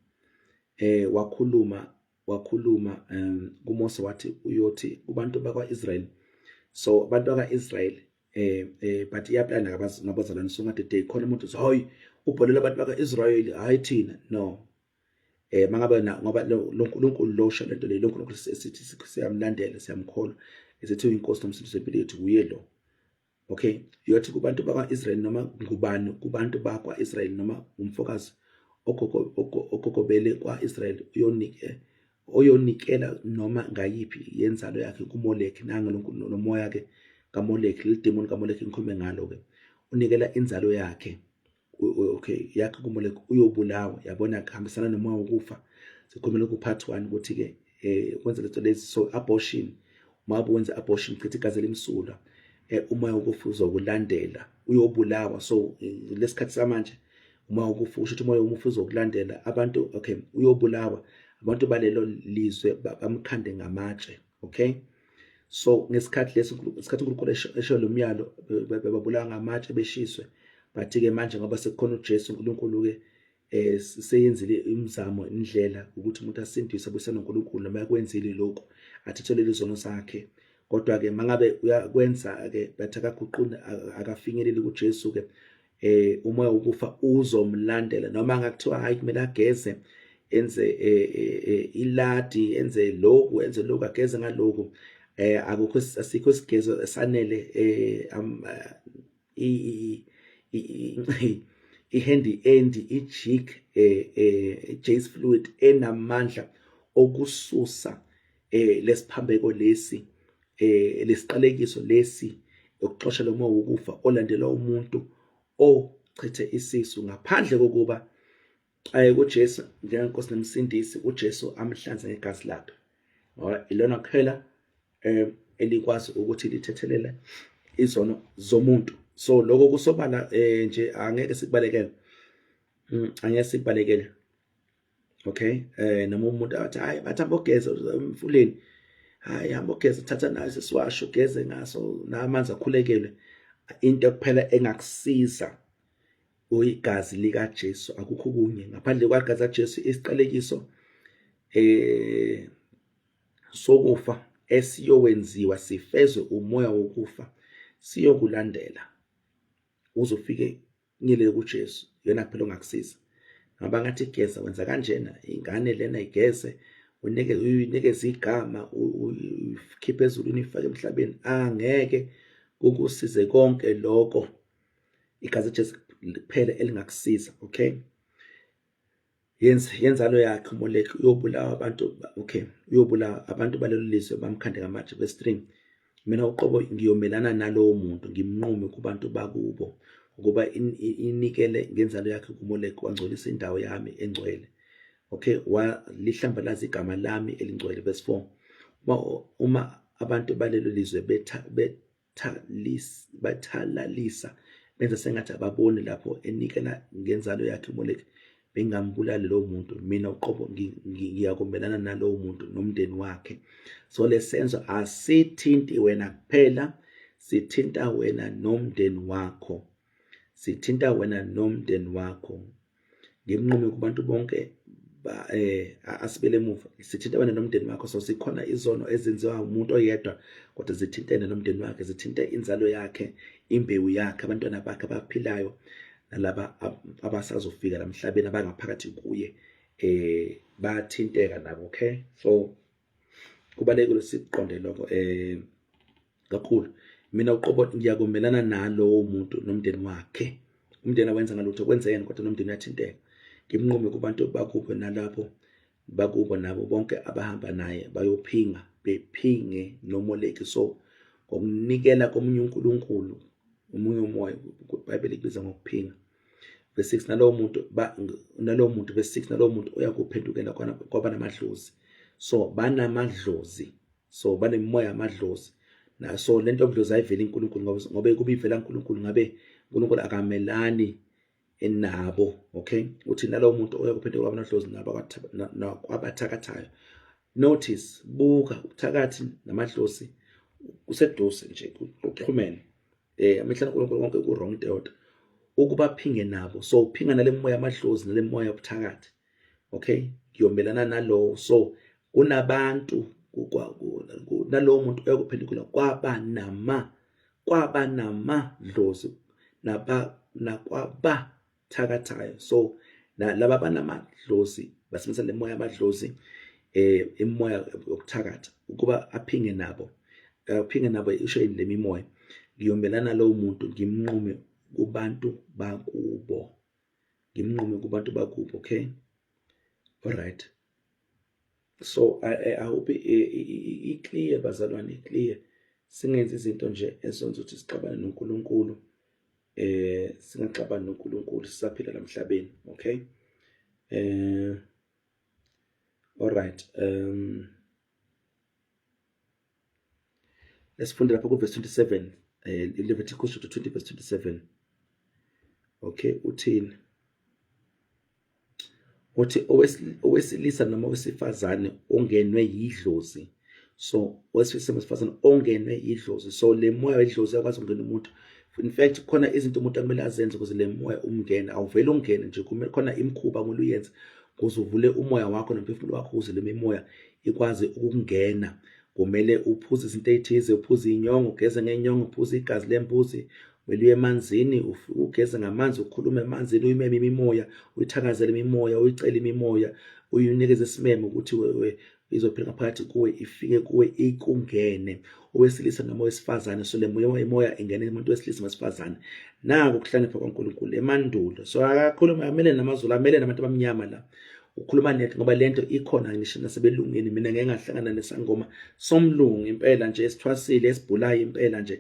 eh wakhuluma wakhuluma um kuMose wathi uyothi kubantu bakwaIsrael so abantu bakaIsrael eh eh but iyaplana ngabazalwane so ngade day khona umuntu hayi ubholela abantu bakaIsrael hayi thina no eh mangabe na ngoba loNkulunkulu lo sho lento le loNkulunkulu esithi siyamlandela siyamkholwa esithi uyinkosi nomsindisi wempilo yethu kuye lo okay uyothi kubantu bakwa-israyeli noma ngubani kubantu bakwa-israyeli noma ngumfokazi okokobele kwa-israyeli uyonike oyonikela noma ngayiphi yenzalo yakhe kumoleki nange lomoya-ke kamoleki lelidemoni kamoleki ngikhulume ngalo-ke unikela inzalo yakhe okay yakhe kumule uyobulawa yabona kuhambisana noma ukufa sikhulumela ku part 1 ukuthi ke eh kwenza lezo lezi so abortion uma wenza abortion chitha igazi elimsulwa eh uma ukufa uzokulandela uyobulawa so lesikhathi samanje uma ukufa usho ukuthi umoya umufa uzokulandela abantu okay uyobulawa abantu balelo lizwe bamkhande ngamatshe okay so ngesikhathi lesi ngesikhathi uNkulunkulu esho lo myalo bebabulawa ngamatshe beshiswe bathi-ke manje ngoba sekukhona uJesu uNkulunkulu-ke eh seyenzile imizamo indlela ukuthi umuntu asindiswe abuyisane noNkulunkulu noma yakwenzile lokho athethelele izono zakhe kodwa-ke mangabe uyakwenza-ke bathi akaguquni akafinyeleli kuJesu-ke eh umoya wokufa uzomlandela noma ngakuthiwa hayi kumele ageze enze eh, eh, eh, iladi enze lokhu enze lokhu ageze ngalokhu eh akukho asikho isigezo esanele eh ihandy end ijig eh, eh Jace fluid enamandla okususa eh lesiphambeko lesi eh lesiqalekiso lesi yokuxosha lo moya wokufa olandelwa umuntu ochithe isisu ngaphandle kokuba aye kuJesu njengenkosi nemsindisi uJesu amhlanze ngegazi lakhe ngoba ilona kuphela eh elikwazi ukuthi lithethelele izono zomuntu so lokho kusobala eh nje angeke sikubalekele mm, angeke sikubalekele okay eh noma umuntu athi hayi bathi abogeza emfuleni hayi hamba ogeza thatha naso siwasho geze ngaso namanzi akhulekele into kuphela engakusiza uyigazi lika Jesu akukho kunye ngaphandle kwagazi ka Jesu isiqalekiso eh sokufa esiyowenziwa sifezwe umoya wokufa siyokulandela uzofike Ngile kuJesu yena kuphela ongakusiza. Ngaba ngathi igeza wenza kanjena ingane lena igeze unike uyinikeze igama uyikhiphe ezulwini ifake emhlabeni angeke kukusize konke lokho igazi Jesu kuphela elingakusiza okay yenza yenzalo yakhe umoleki uyobulawa abantu okay uyobulawa abantu balelo lizwe bamkhande ngamatshe kwestring mina uqobo ngiyomelana nalowo muntu ngimnqume kubantu bakubo ukuba inikele ngenzalo yakhe kumoleki wangcolisa indawo yami engcwele okay walihlambalaza igama lami elingcwele verse 4 uma uma abantu balelo lizwe betha bathalis bathalalisa benza sengathi ababoni lapho enikela ngenzalo yakhe uMoleki bengambulali lowo muntu mina uqobo ngiyakumelana nalowo muntu nomndeni wakhe so lesenzo asithinti wena kuphela sithinta wena nomndeni wakho sithinta wena nomndeni wakho ngimnqume kubantu bonke ba eh asibele emuva sithinta wena nomndeni wakho so sikhona izono ezenziwa umuntu oyedwa kodwa zithintene nomndeni wakhe zithinta inzalo yakhe imbewu yakhe abantwana bakhe abaphilayo nalaba abasazofika namhlabeni abangaphakathi kuye eh bathinteka nabo okay so kubalekile siqonde lokho eh kakhulu mina uqobo ngiyakumelana nalowo muntu nomndeni wakhe umndeni awenza ngalutho kwenzekeni kodwa nomndeni uyathinteka ngimnqume kubantu bakubo nalapho bakubo nabo bonke abahamba naye bayophinga bephinge nomoleki so ngokunikela komunye unkulunkulu omunye umoya ibhayibheli kubiza ngokuphinga verse 6 nalowo muntu nalowo muntu verse 6 nalowo muntu uyakuphendukela kwaba namadlozi so banamadlozi so banemimoya yamadlozi na so lento yobudlozi ayiveli uNkulunkulu ngoba ngoba kuba ivela uNkulunkulu ngabe uNkulunkulu akamelani enabo okay uthi nalowo muntu oyakuphethe kwabanodlozi nabo abathakathayo notice buka ubuthakathi namadlozi kuseduze nje kuxhumene eh amehla uNkulunkulu konke ku wrong deodwa ukubaphinge nabo so uphinga nalemoya amadlozi nalemoya obuthakathi okay ngiyomelana nalowo so kunabantu nalowo muntu oyokuphendukela kwaba nama kwaba nama dlozi naba nakwaba thakathayo so laba banamadlozi basebenzisa le moya amadlozi eh imoya yokuthakatha ukuba aphinge nabo aphinge nabo isho yini lemimoya ngiyomelana lowo muntu ngimnqume kubantu bakubo ngimnqume kubantu bakubo okay alright so awubi i-clear bazalwane i-clear singenzi izinto nje esonza ukuthi sixabane noNkulunkulu eh singaxabani noNkulunkulu sisaphila namhlabeni okay eh alright um Lesifunde lapha kuverse 27 eh Leviticus chapter 20 verse 27. Okay, uthini? Uthi owesilisa noma owesifazane ongenwe yidlozi. So owesilisa owesifazane ongenwe yidlozi. So le moya wedlozi yakwazi ukungena umuntu. In fact khona izinto umuntu akumele azenze ukuze le moya umngene. Awuvele ungene nje kumele khona imkhuba ngoluyenza kuze uvule umoya wakho nomphefumulo wakho ukuze le mimoya ikwazi ukungena kumele uphuze izinto ey'thize uphuze iy'nyongo ugeze ngey'nyongo uphuze igazi lembuzi kumele uye emanzini ugeze ngamanzi ukhulume emanzini uyimeme imimoya uyithakazele imimoya uyicele imimoya uyinikeze isimemo ukuthi izophila ngaphakathi kuwe ifike kuwe ikungene owesilisa noma owesifazane so le moya imoya ingene umuntu wesilisa wesifazane naku ukuhlonipha kwaNkulunkulu emandulo so akakhulume amele namazulu amele nabantu abamnyama la ukhuluma net ngoba lento ikhona ngisho nasebelungeni mina ngeke ngahlangana nesangoma somlungu impela nje esithwasile esibhulayo impela nje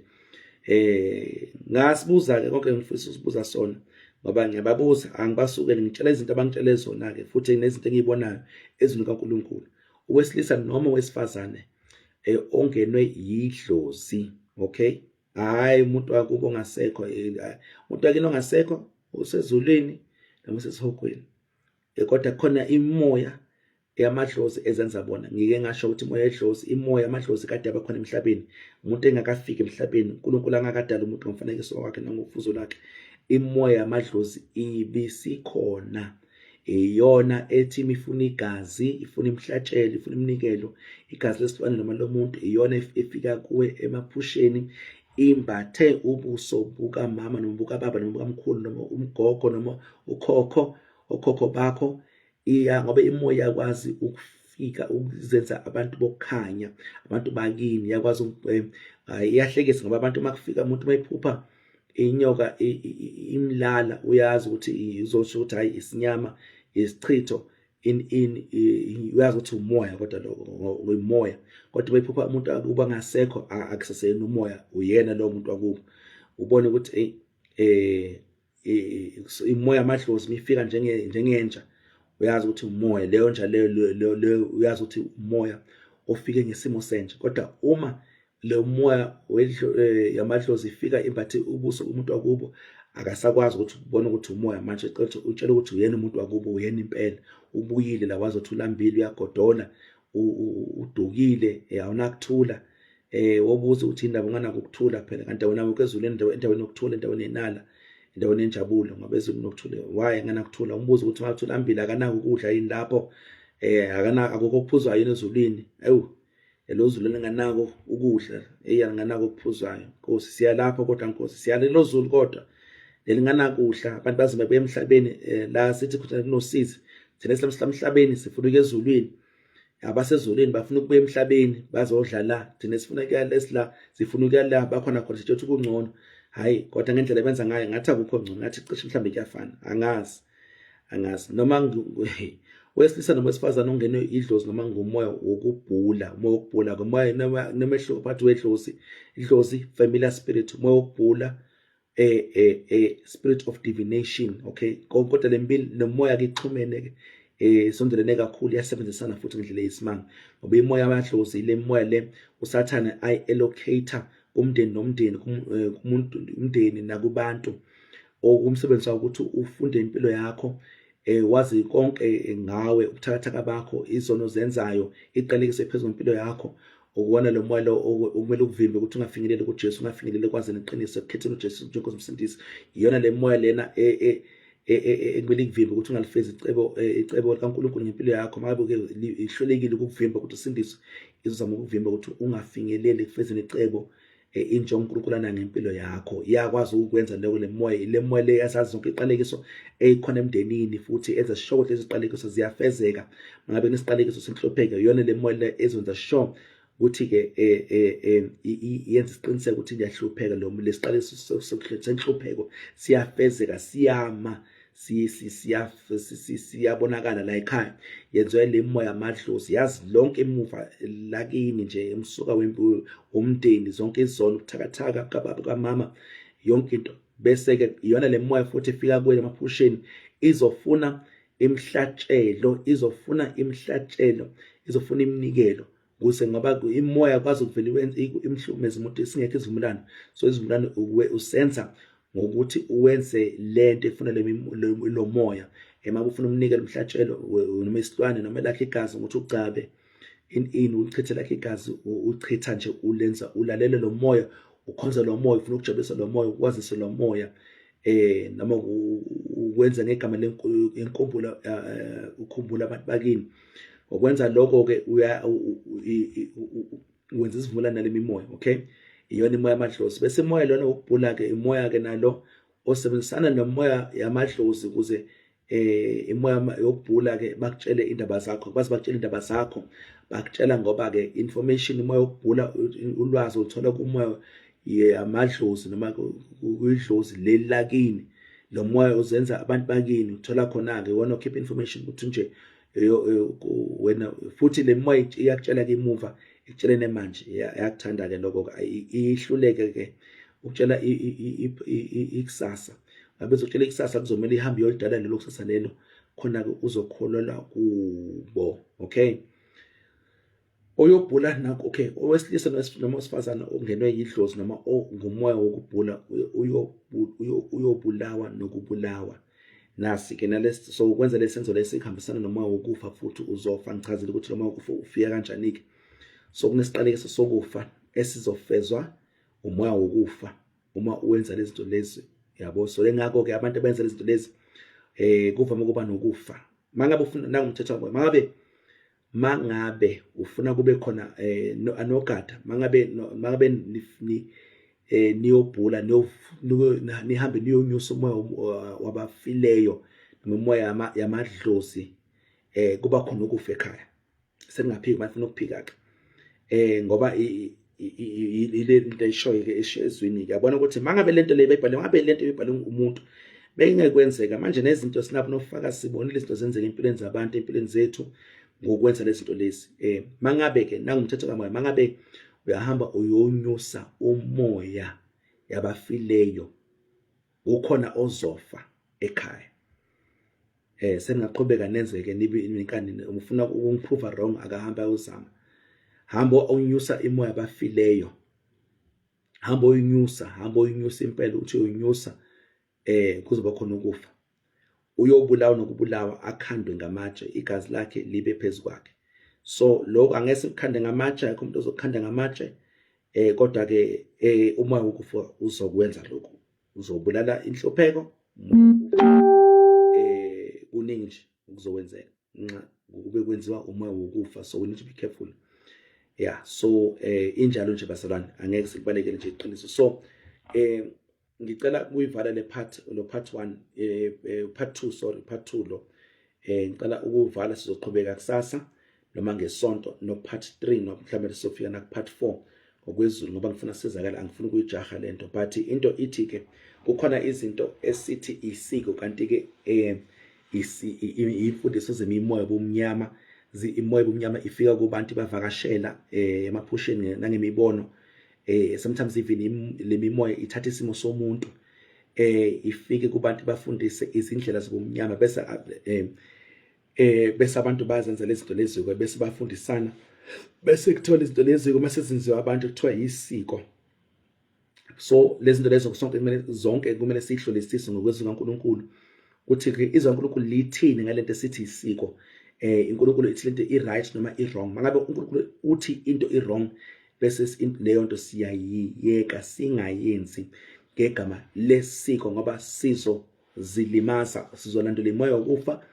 eh ngasibuza ke konke ngifisa usibuza sona ngoba ngiyababuza angibasukeli ngitshela izinto abangitshele zona ke futhi nezinto engiyibonayo ezwini kaNkuluNkulu owesilisa noma owesifazane eh, ongenwe yidlozi okay hayi umuntu wakubo ongasekho eh, umuntu wakini ongasekho usezulwini noma usesihogweni eh, kodwa khona imoya yamadlozi ezenza bona ngike ngasho ukuthi imoya yedlozi imoya yamadlozi kade abakhona emhlabeni umuntu engakafiki emhlabeni uNkulunkulu angakadala umuntu ngomfanekiso wakhe nangofuzo lakhe imoya yamadlozi ibisikhona iyona ethi imifuna igazi ifuna imhlatshelo ifuna iminikelo igazi lesilwane noma lomuntu iyona efika kuwe emaphusheni imbathe ubuso bukamama noma bukababa noma bukamkhulu noma umgogo noma ukhokho okhokho bakho iya ngoba imoya yakwazi ukufika ukuzenza abantu bokukhanya abantu bakini yakwazi eh, iyahlekisa ngoba abantu uma kufika umuntu uma ephupha inyoka imlala uyazi ukuthi izosho ukuthi hayi isinyama isichitho in in uyazi ukuthi umoya kodwa ngomoya kodwa bayiphupha umuntu akuba ngasekho akusaseyini umoya uyena lo muntu wakubo ubone ukuthi hey eh, eh, eh imoya amadlozi mifika njenge njengenja uyazi ukuthi umoya leyo nja leyo leyo uyazi ukuthi umoya ofike ngesimo senja kodwa uma leyo moya eh, yamadlozi ifika imbathe ubuso umuntu wakubo akasakwazi ukuthi ubone ukuthi umoya manje qethe utshela ukuthi uyena umuntu wakubo uyena impela ubuyile la wazothi ulambile uyagodola udukile eh, awunakuthula eh wobuza ukuthi indaba unganako ukuthula phela kanti wena wonke ezulu endaweni endaweni yokuthula endaweni yenala endaweni enjabulo ngoba ezulu nokuthula why enganakuthula umbuzo ukuthi ungathula ambili akanako ukudla yini lapho eh akana akukho kuphuzwa yini ezulwini ayu elozulu linganako ukudla eyi alinganako okuphuzayo nkosi siyalapha kodwa nkosi siyala elozulu kodwa nelinganakudla abantu bazima buya emhlabeni eh, la sithi khona kunosizi thina silamhlabeni sifuna ukuya ezulwini abasezulwini bafuna ukubuya emhlabeni bazodla la thina sifuna ukuya lesila sifuna ukuya la bakhona khona sithi ukungcono hayi kodwa ngendlela benza ngayo ngathi akukho ngcono ngathi cishe mhlawumbe kuyafana angazi angazi noma wesilisa noma wesifazane ongenwe idlozi noma ngumoya wokubhula umoya wokubhula ngomoya noma phakathi wedlozi idlozi familiar spirit umoya wokubhula a, a, a spirit of divination okay kodwa lempilo nomoya ke ixhumene ke eh sondelene kakhulu yasebenzisana futhi ngendlela yesimanga ngoba imoya amadlozi le moya le usathane i allocator kumndeni nomndeni eh, kumuntu umndeni nakubantu okumsebenzisa ukuthi ufunde impilo yakho eh wazi konke ngawe ubuthakathaka bakho izono zenzayo iqalekise phezulu impilo yakho ukuwona lo moya lo okumele ukuvimbe ukuthi ungafinyeleli kuJesu ungafinyeleli kwazini iqiniso ekukhetheni uJesu njengoba umsindisi iyona le moya lena e, e, e, ekumele ikuvimbe ukuthi ungalifezi icebo icebo likaNkulunkulu ngempilo yakho makabe ke ihlelekile ukuvimba ukuthi usindiswe izozama ukuvimba ukuthi ungafinyeleli ekufezeni icebo eh, intsha uNkulunkulu anangempilo yakho iyakwazi ukwenza lokho lemoya lemoya le yasazi zonke iqalekiso eyikhona emndenini futhi enza sure ukuthi iziqalekiso ziyafezeka mangabe nesiqalekiso senhlopheke yona lemoya le ezonza sure ukuthi ke eh, eh, eh, yenza isiqiniseko ukuthi ngiyahlupheka lo lesiqalekiso senhlupheko siyafezeka siyama siyabonakala la ekhaya yenziwa le moya amadlozi yazi lonke emuva lakini nje emsuka wempuyo umndeni zonke izono kuthakathaka kababa kamama yonke into bese ke iyona le moya futhi ifika kuwe emaphusheni izofuna imhlatshelo izofuna imhlatshelo izofuna iminikelo kuze ngoba imoya kwazi ukuvela imhlukumeza umuntu isingekho izivumelwano so izivumelwano uwe usenza ngokuthi uwenze lento efuna lo moya ema ufuna umnikele umhlatshelo noma isilwane noma lakhe igazi ukuthi ugcabe in in ulichithe lakhe igazi uchitha nje ulenza ulalele lo moya ukhonza lo moya ufuna ukujabulisa lo moya ukwazise lo moya eh noma ukwenza ngegama lenkumbulo eh, ukhumbula abantu bakini ngokwenza lokho ke uya wenza isivumelwano nalemimoya okay iyona imoya yamadlozi bese imoya lona wokubhula ke imoya ke nalo osebenzisana nomoya yamadlozi ukuze eh imama yokubhula ke bakutshele indaba zakho baze bakutshela indaba zakho bakutshela ngoba ke information uma yokubhula ulwazi uthola kumoya yamadlozi noma kuyidlozi leli lakini lo moya uzenza abantu bakini uthola khona-ke wona okhipha information ukuthi nje wena futhi le moya iyakutshela ke imuva ikutshelene manje yakuthanda ke lokho ihluleke ke ukutshela ikusasa ngabe uzokutshela ikusasa kuzomela ihambe iyolidala lelo kusasa lelo khona-ke uzokholelwa kubo okay oyobhula nakho okay owesilisa noma osifazana ongenwe yidlozi noma ongumoya wokubhula uyobulawa nokubulawa nasi-ke nalesi so ukwenza lesi senzo lesi kuhambisana nomoya wokufa futhi uzofa ngichazile ukuthi lomoya wokufa ufika kanjani-ke so kunesiqalekiso sokufa esizofezwa umoya wokufa uma uwenza lezi zinto lezi yabo so ke ngakho-ke abantu abenza lezi zinto lezi um kuvame ukuba nokufa mangabe ufuna nangumthetho wamoya mangabe mangabe ufuna kube khona eh anogada mangabe mangabe ni eh niyobhula nihambe niyonyusa umoya wabafileyo nomoya yamadlozi eh kuba khona ukufa ekhaya sekungaphiki bafuna ukuphika ke eh ngoba ile nto ayishoyo-ke ezwini-ke yabona ukuthi uma ngabe le nto le beyibhale ngabe le nto beyibhale umuntu bekungekwenzeka manje nezinto sinabo nofakazi sibonile izinto zenzeka empilweni zabantu empilweni zethu ngokwenza lezi zinto lezi um eh, uma ngabe-ke nangumthetho kamoya uma ngabe uyahamba uyonyusa umoya yabafileyo ukhona ozofa ekhaya eh seningaqhubeka nenzeke nibe inkani ufuna ukungiprova wrong akahamba ayozama hamba unyusa imoya abafileyo hamba uyinyusa hamba uyinyusa impela uthi uyinyusa eh kuzoba khona ukufa uyobulawa nokubulawa akhandwe ngamatshe igazi lakhe libe phezu kwakhe so lokho angeke sikukhande ngamatshe akho umuntu ozokukhanda ngamatshe eh kodwa ke eh uma ukufa uzokwenza lokho uzobulala inhlupheko eh kuningi nje ukuzokwenzeka nxa kube kwenziwa uma wokufa so we need to be careful yeah so eh injalo nje basalwane angeke sikubalekele nje iqiniso so eh ngicela kuyivala le part lo part 1 eh, eh, part 2 sorry part 2 lo eh ngicela ukuvala sizoqhubeka kusasa noma ngesonto no part 3 no mhlawumbe sofika na part 4 ngokwezulu ngoba ngifuna sizakala angifuni kuyijaha lento but into ithi ke kukhona izinto esithi isiko kanti ke eh imfundiso zemimoya bomnyama imoya bomnyama ifika kubantu bavakashela eh emaphusheni nangemibono eh sometimes even lemimoya ithatha isimo somuntu eh ifike kubantu bafundise izindlela zobumnyama bese eh eh bese abantu bazenza lezinto lezi bese bafundisana bese kuthola izinto lezi uma sezinziwa abantu kuthiwa yisiko so lezinto lezo sonke kumele zonke kumele sihlolisise ngokwezwi kaNkuluNkulu ukuthi ke izwi kaNkuluNkulu lithini ngalento esithi isiko eh iNkuluNkulu ithi lento i right noma i wrong mangabe uNkuluNkulu uthi into i wrong bese leyo nto siyayiyeka singayenzi ngegama lesiko ngoba sizo zilimaza sizolandela imoya wokufa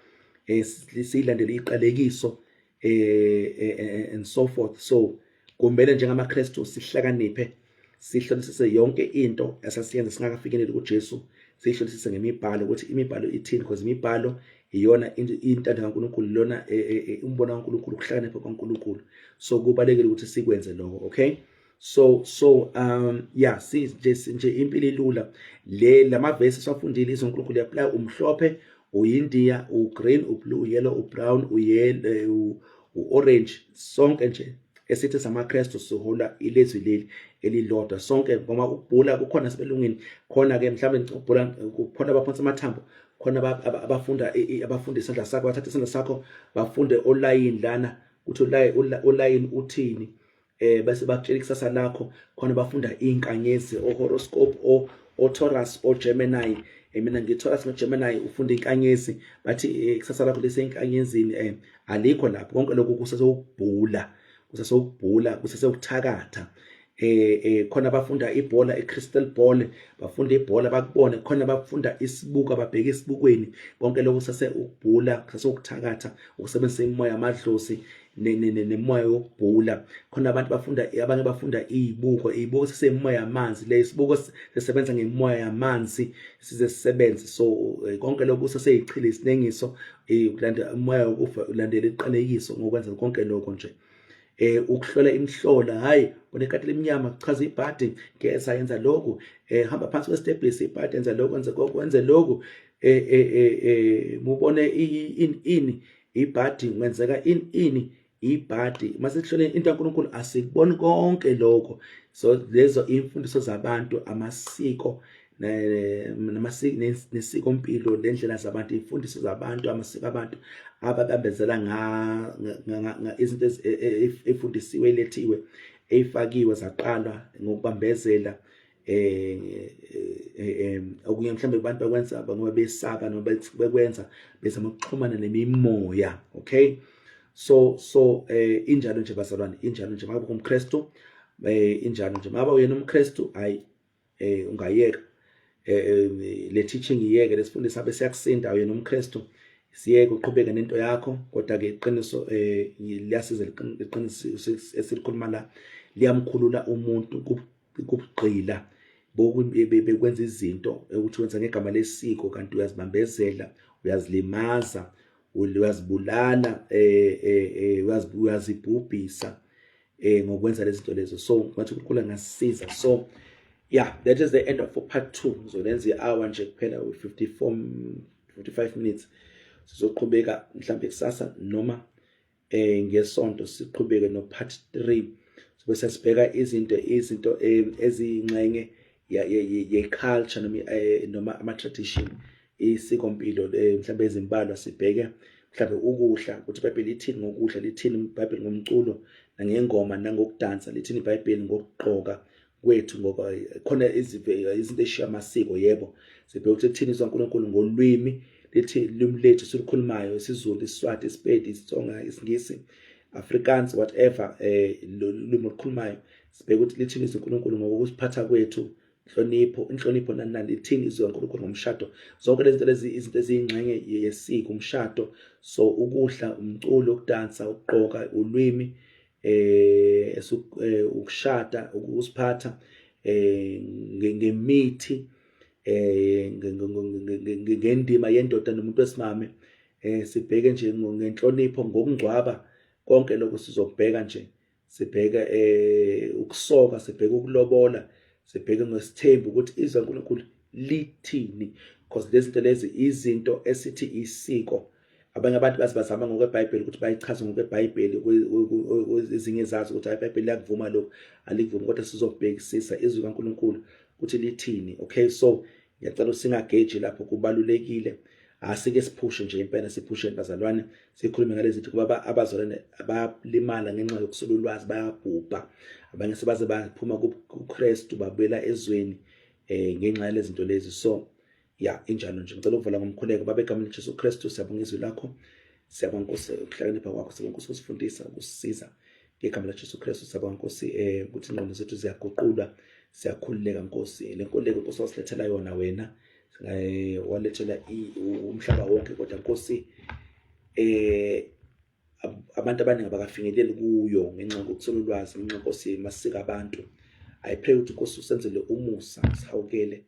eh, siyilandele iqalekiso eh, eh, eh and so forth so kumele njengamaKristu sihlakaniphe sihlolisise yonke into esasiyenza singakafikeleli kuJesu sihlolisise ngemibhalo ukuthi imibhalo ithini because imibhalo iyona intando kaNkulunkulu lona e, e, e, umbono kaNkulunkulu ukuhlakanipha kwaNkulunkulu so kubalekile ukuthi sikwenze lokho okay so so um yeah si nje impilo ilula le lamavesi safundile izoNkulunkulu yapply umhlophe uyindiya ugreen ublue uyellow ubrown uyellow uorange sonke nje esithi samaKristu sihola ilizwi leli elilodwa sonke ngoba ukubhula kukhona sibelungini khona ke mhlawumbe ukubhula kukhona abaphonsa amathambo khona abafunda abafunda isandla sakho bathatha isandla sakho bafunde olayini lana ukuthi olayini uthini eh bese bakutshela ikusasa lakho khona bafunda inkanyezi o horoscope o o Taurus o Gemini eh, mina ngi Taurus no Gemini ufunda inkanyezi bathi eh, ikusasa lakho lese inkanyezini eh alikho lapho konke lokho kusasokubhula kusasokubhula kusasekuthakatha eh eh khona bafunda ibhola iCrystal Ball bafunda ibhola bakubone khona bafunda isibuka babheke isibukweni konke lokho sase ukubhula sase ukuthakatha ukusebenzisa imoya amadlozi nemoya yokubhula khona abantu bafunda abanye bafunda izibuko izibuko sisemoya yamanzi le isibuko sisebenza ngemoya yamanzi size sisebenze so eh, konke lokho saseyichle isinengiso eh, ukulanda umoya wokufa ulandela iqalekiso ngokwenza konke lokho nje eh ukuhlola imhlola hayi unekati lemnyama kuchaza ibhadi ngeza yenza lokhu eh hamba phansi kwestebhis ibhadi yenza lokhu enze kokho enze lokhu eh eh eh, eh mubone in in ibhadi ngenzeka in in ibhadi masihlole into kaNkuluNkulu asikuboni konke lokho so lezo imfundiso zabantu amasiko nesikompilo lendlela zabantu imfundiso zabantu amasiko abantu ababambezela izinto efundisiwe e, e, elethiwe eyifakiwe zaqalwa ngokubambezela eh, eh, eh okunye mhlawumbe abantu bakwenza ngoba besaka noma bekwenza bezama ukuxhumana nemimoya okay so so eh injalo nje bazalwane injalo nje makabe umKristu eh injalo nje makabe uyena umKristu hayi eh ungayeka eh, eh le teaching iyeke lesifundo sabe siyakusinda wena umKristu siyeke uqhubeke nento yakho kodwa ke iqiniso eh liyasiza iqiniso esilikhuluma la liyamkhulula umuntu kubugqila bekwenza izinto ukuthi wenza ngegama lesiko kanti uyazibambezela uyazilimaza uyazibulala eh, eh, eh uyazibhubhisa eh ngokwenza lezi zinto lezo so ngathi uNkulunkulu angasiza so yeah that is the end of part 2 ngizolenza i-hour nje kuphela 54 45 minutes sizoqhubeka mhlawumbe kusasa noma eh ngesonto siqhubeke no part 3 sobe sesibheka izinto izinto eh, eziyinxenye ye culture noma eh, noma ama tradition isikompilo eh, mhlawumbe ezimbalwa sibheke mhlawumbe ukudla ukuthi ibhayibheli lithini ngokudla lithini ibhayibheli ngomculo nangengoma nangokudansa lithini ibhayibheli ngokugqoka kwethu ngoba eh, khona eh, izinto ezishiya amasiko yebo sibheke ukuthi lithini izwa uNkulunkulu ngolwimi lithi limi lethu silukhulumayo isiZulu isiSwati isiPedi isiTsonga isiNgisi Afrikaans whatever eh lolimi olukhulumayo sibheke ukuthi lithini izinkulunkulu ngokusiphatha kwethu inhlonipho inhlonipho nani nani ithini izwi kaNkulunkulu ngomshado zonke lezi zinto lezi izinto eziyingxenye yesiko umshado so ukudla umculo ukudansa ukugqoka ulwimi eh, eh ukushada ukusiphatha eh ngemithi eh ngendima yendoda nomuntu wesimame eh sibheke nje ngenhlonipho ngokungcwaba konke lokho sizokubheka nje sibheka eh ukusoka sibheka ukulobola sibheke ngesithembu ukuthi izwe uNkulunkulu lithini because lezi zinto lezi izinto esithi isiko abanye abantu bazi bazama ngokweBhayibheli ukuthi bayichaze ngokweBhayibheli ezinye zazi ukuthi iBhayibheli liyakuvuma lokho alikuvumi kodwa sizobhekisisa izwi kaNkuluNkulu ukuthi lithini okay so ngiyacela singageji lapho kubalulekile asike siphushe nje impela siphushe bazalwane sikhulume ngalezi zinto kuba abazalwane abalimala ngenxa yokusula ulwazi bayabhubha abanye sebaze baphuma kuKristu babuyela ezweni eh ngenxa yalezi zinto lezi so ya injalo nje ngicela ukuvala ngomkhuleko babe egameni leJesu Kristu siyabonga izwi lakho siyabonga Nkosi ukuhlakanipha kwakho siyabonga Nkosi ukusifundisa ukusisiza ngegama laJesu Kristu sabonga Nkosi eh ukuthi ingqondo zethu ziyaguqulwa siyakhululeka Nkosi lenkululeko Nkosi wasilethela yona wena eh walethela umhlaba wonke kodwa Nkosi eh abantu abaningi abakafinyeleli kuyo ngenxa yokukusela ulwazi ngenxa Nkosi masika abantu i pray ukuthi Nkosi usenzele umusa sihawukele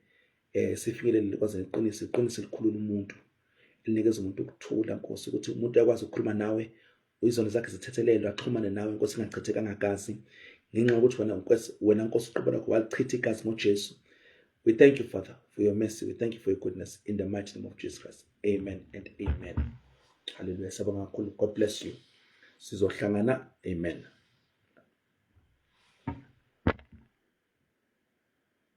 eh sifinyelele kwaze iqiniso iqiniso likhulula umuntu elinikeza umuntu ukuthula Nkosi ukuthi umuntu uyakwazi ukukhuluma nawe Izono zakhe zithethelelwe axhumane nawe Nkosi ingachithekanga gazi ngenxa yokuthi wena Nkosi wena Nkosi uqobo lakho walichitha igazi ngoJesu. We thank you Father for your mercy. We thank you for your goodness in the mighty name of Jesus Christ. Amen and amen. Hallelujah. Sabonga kakhulu. God bless you. Sizohlangana. Amen.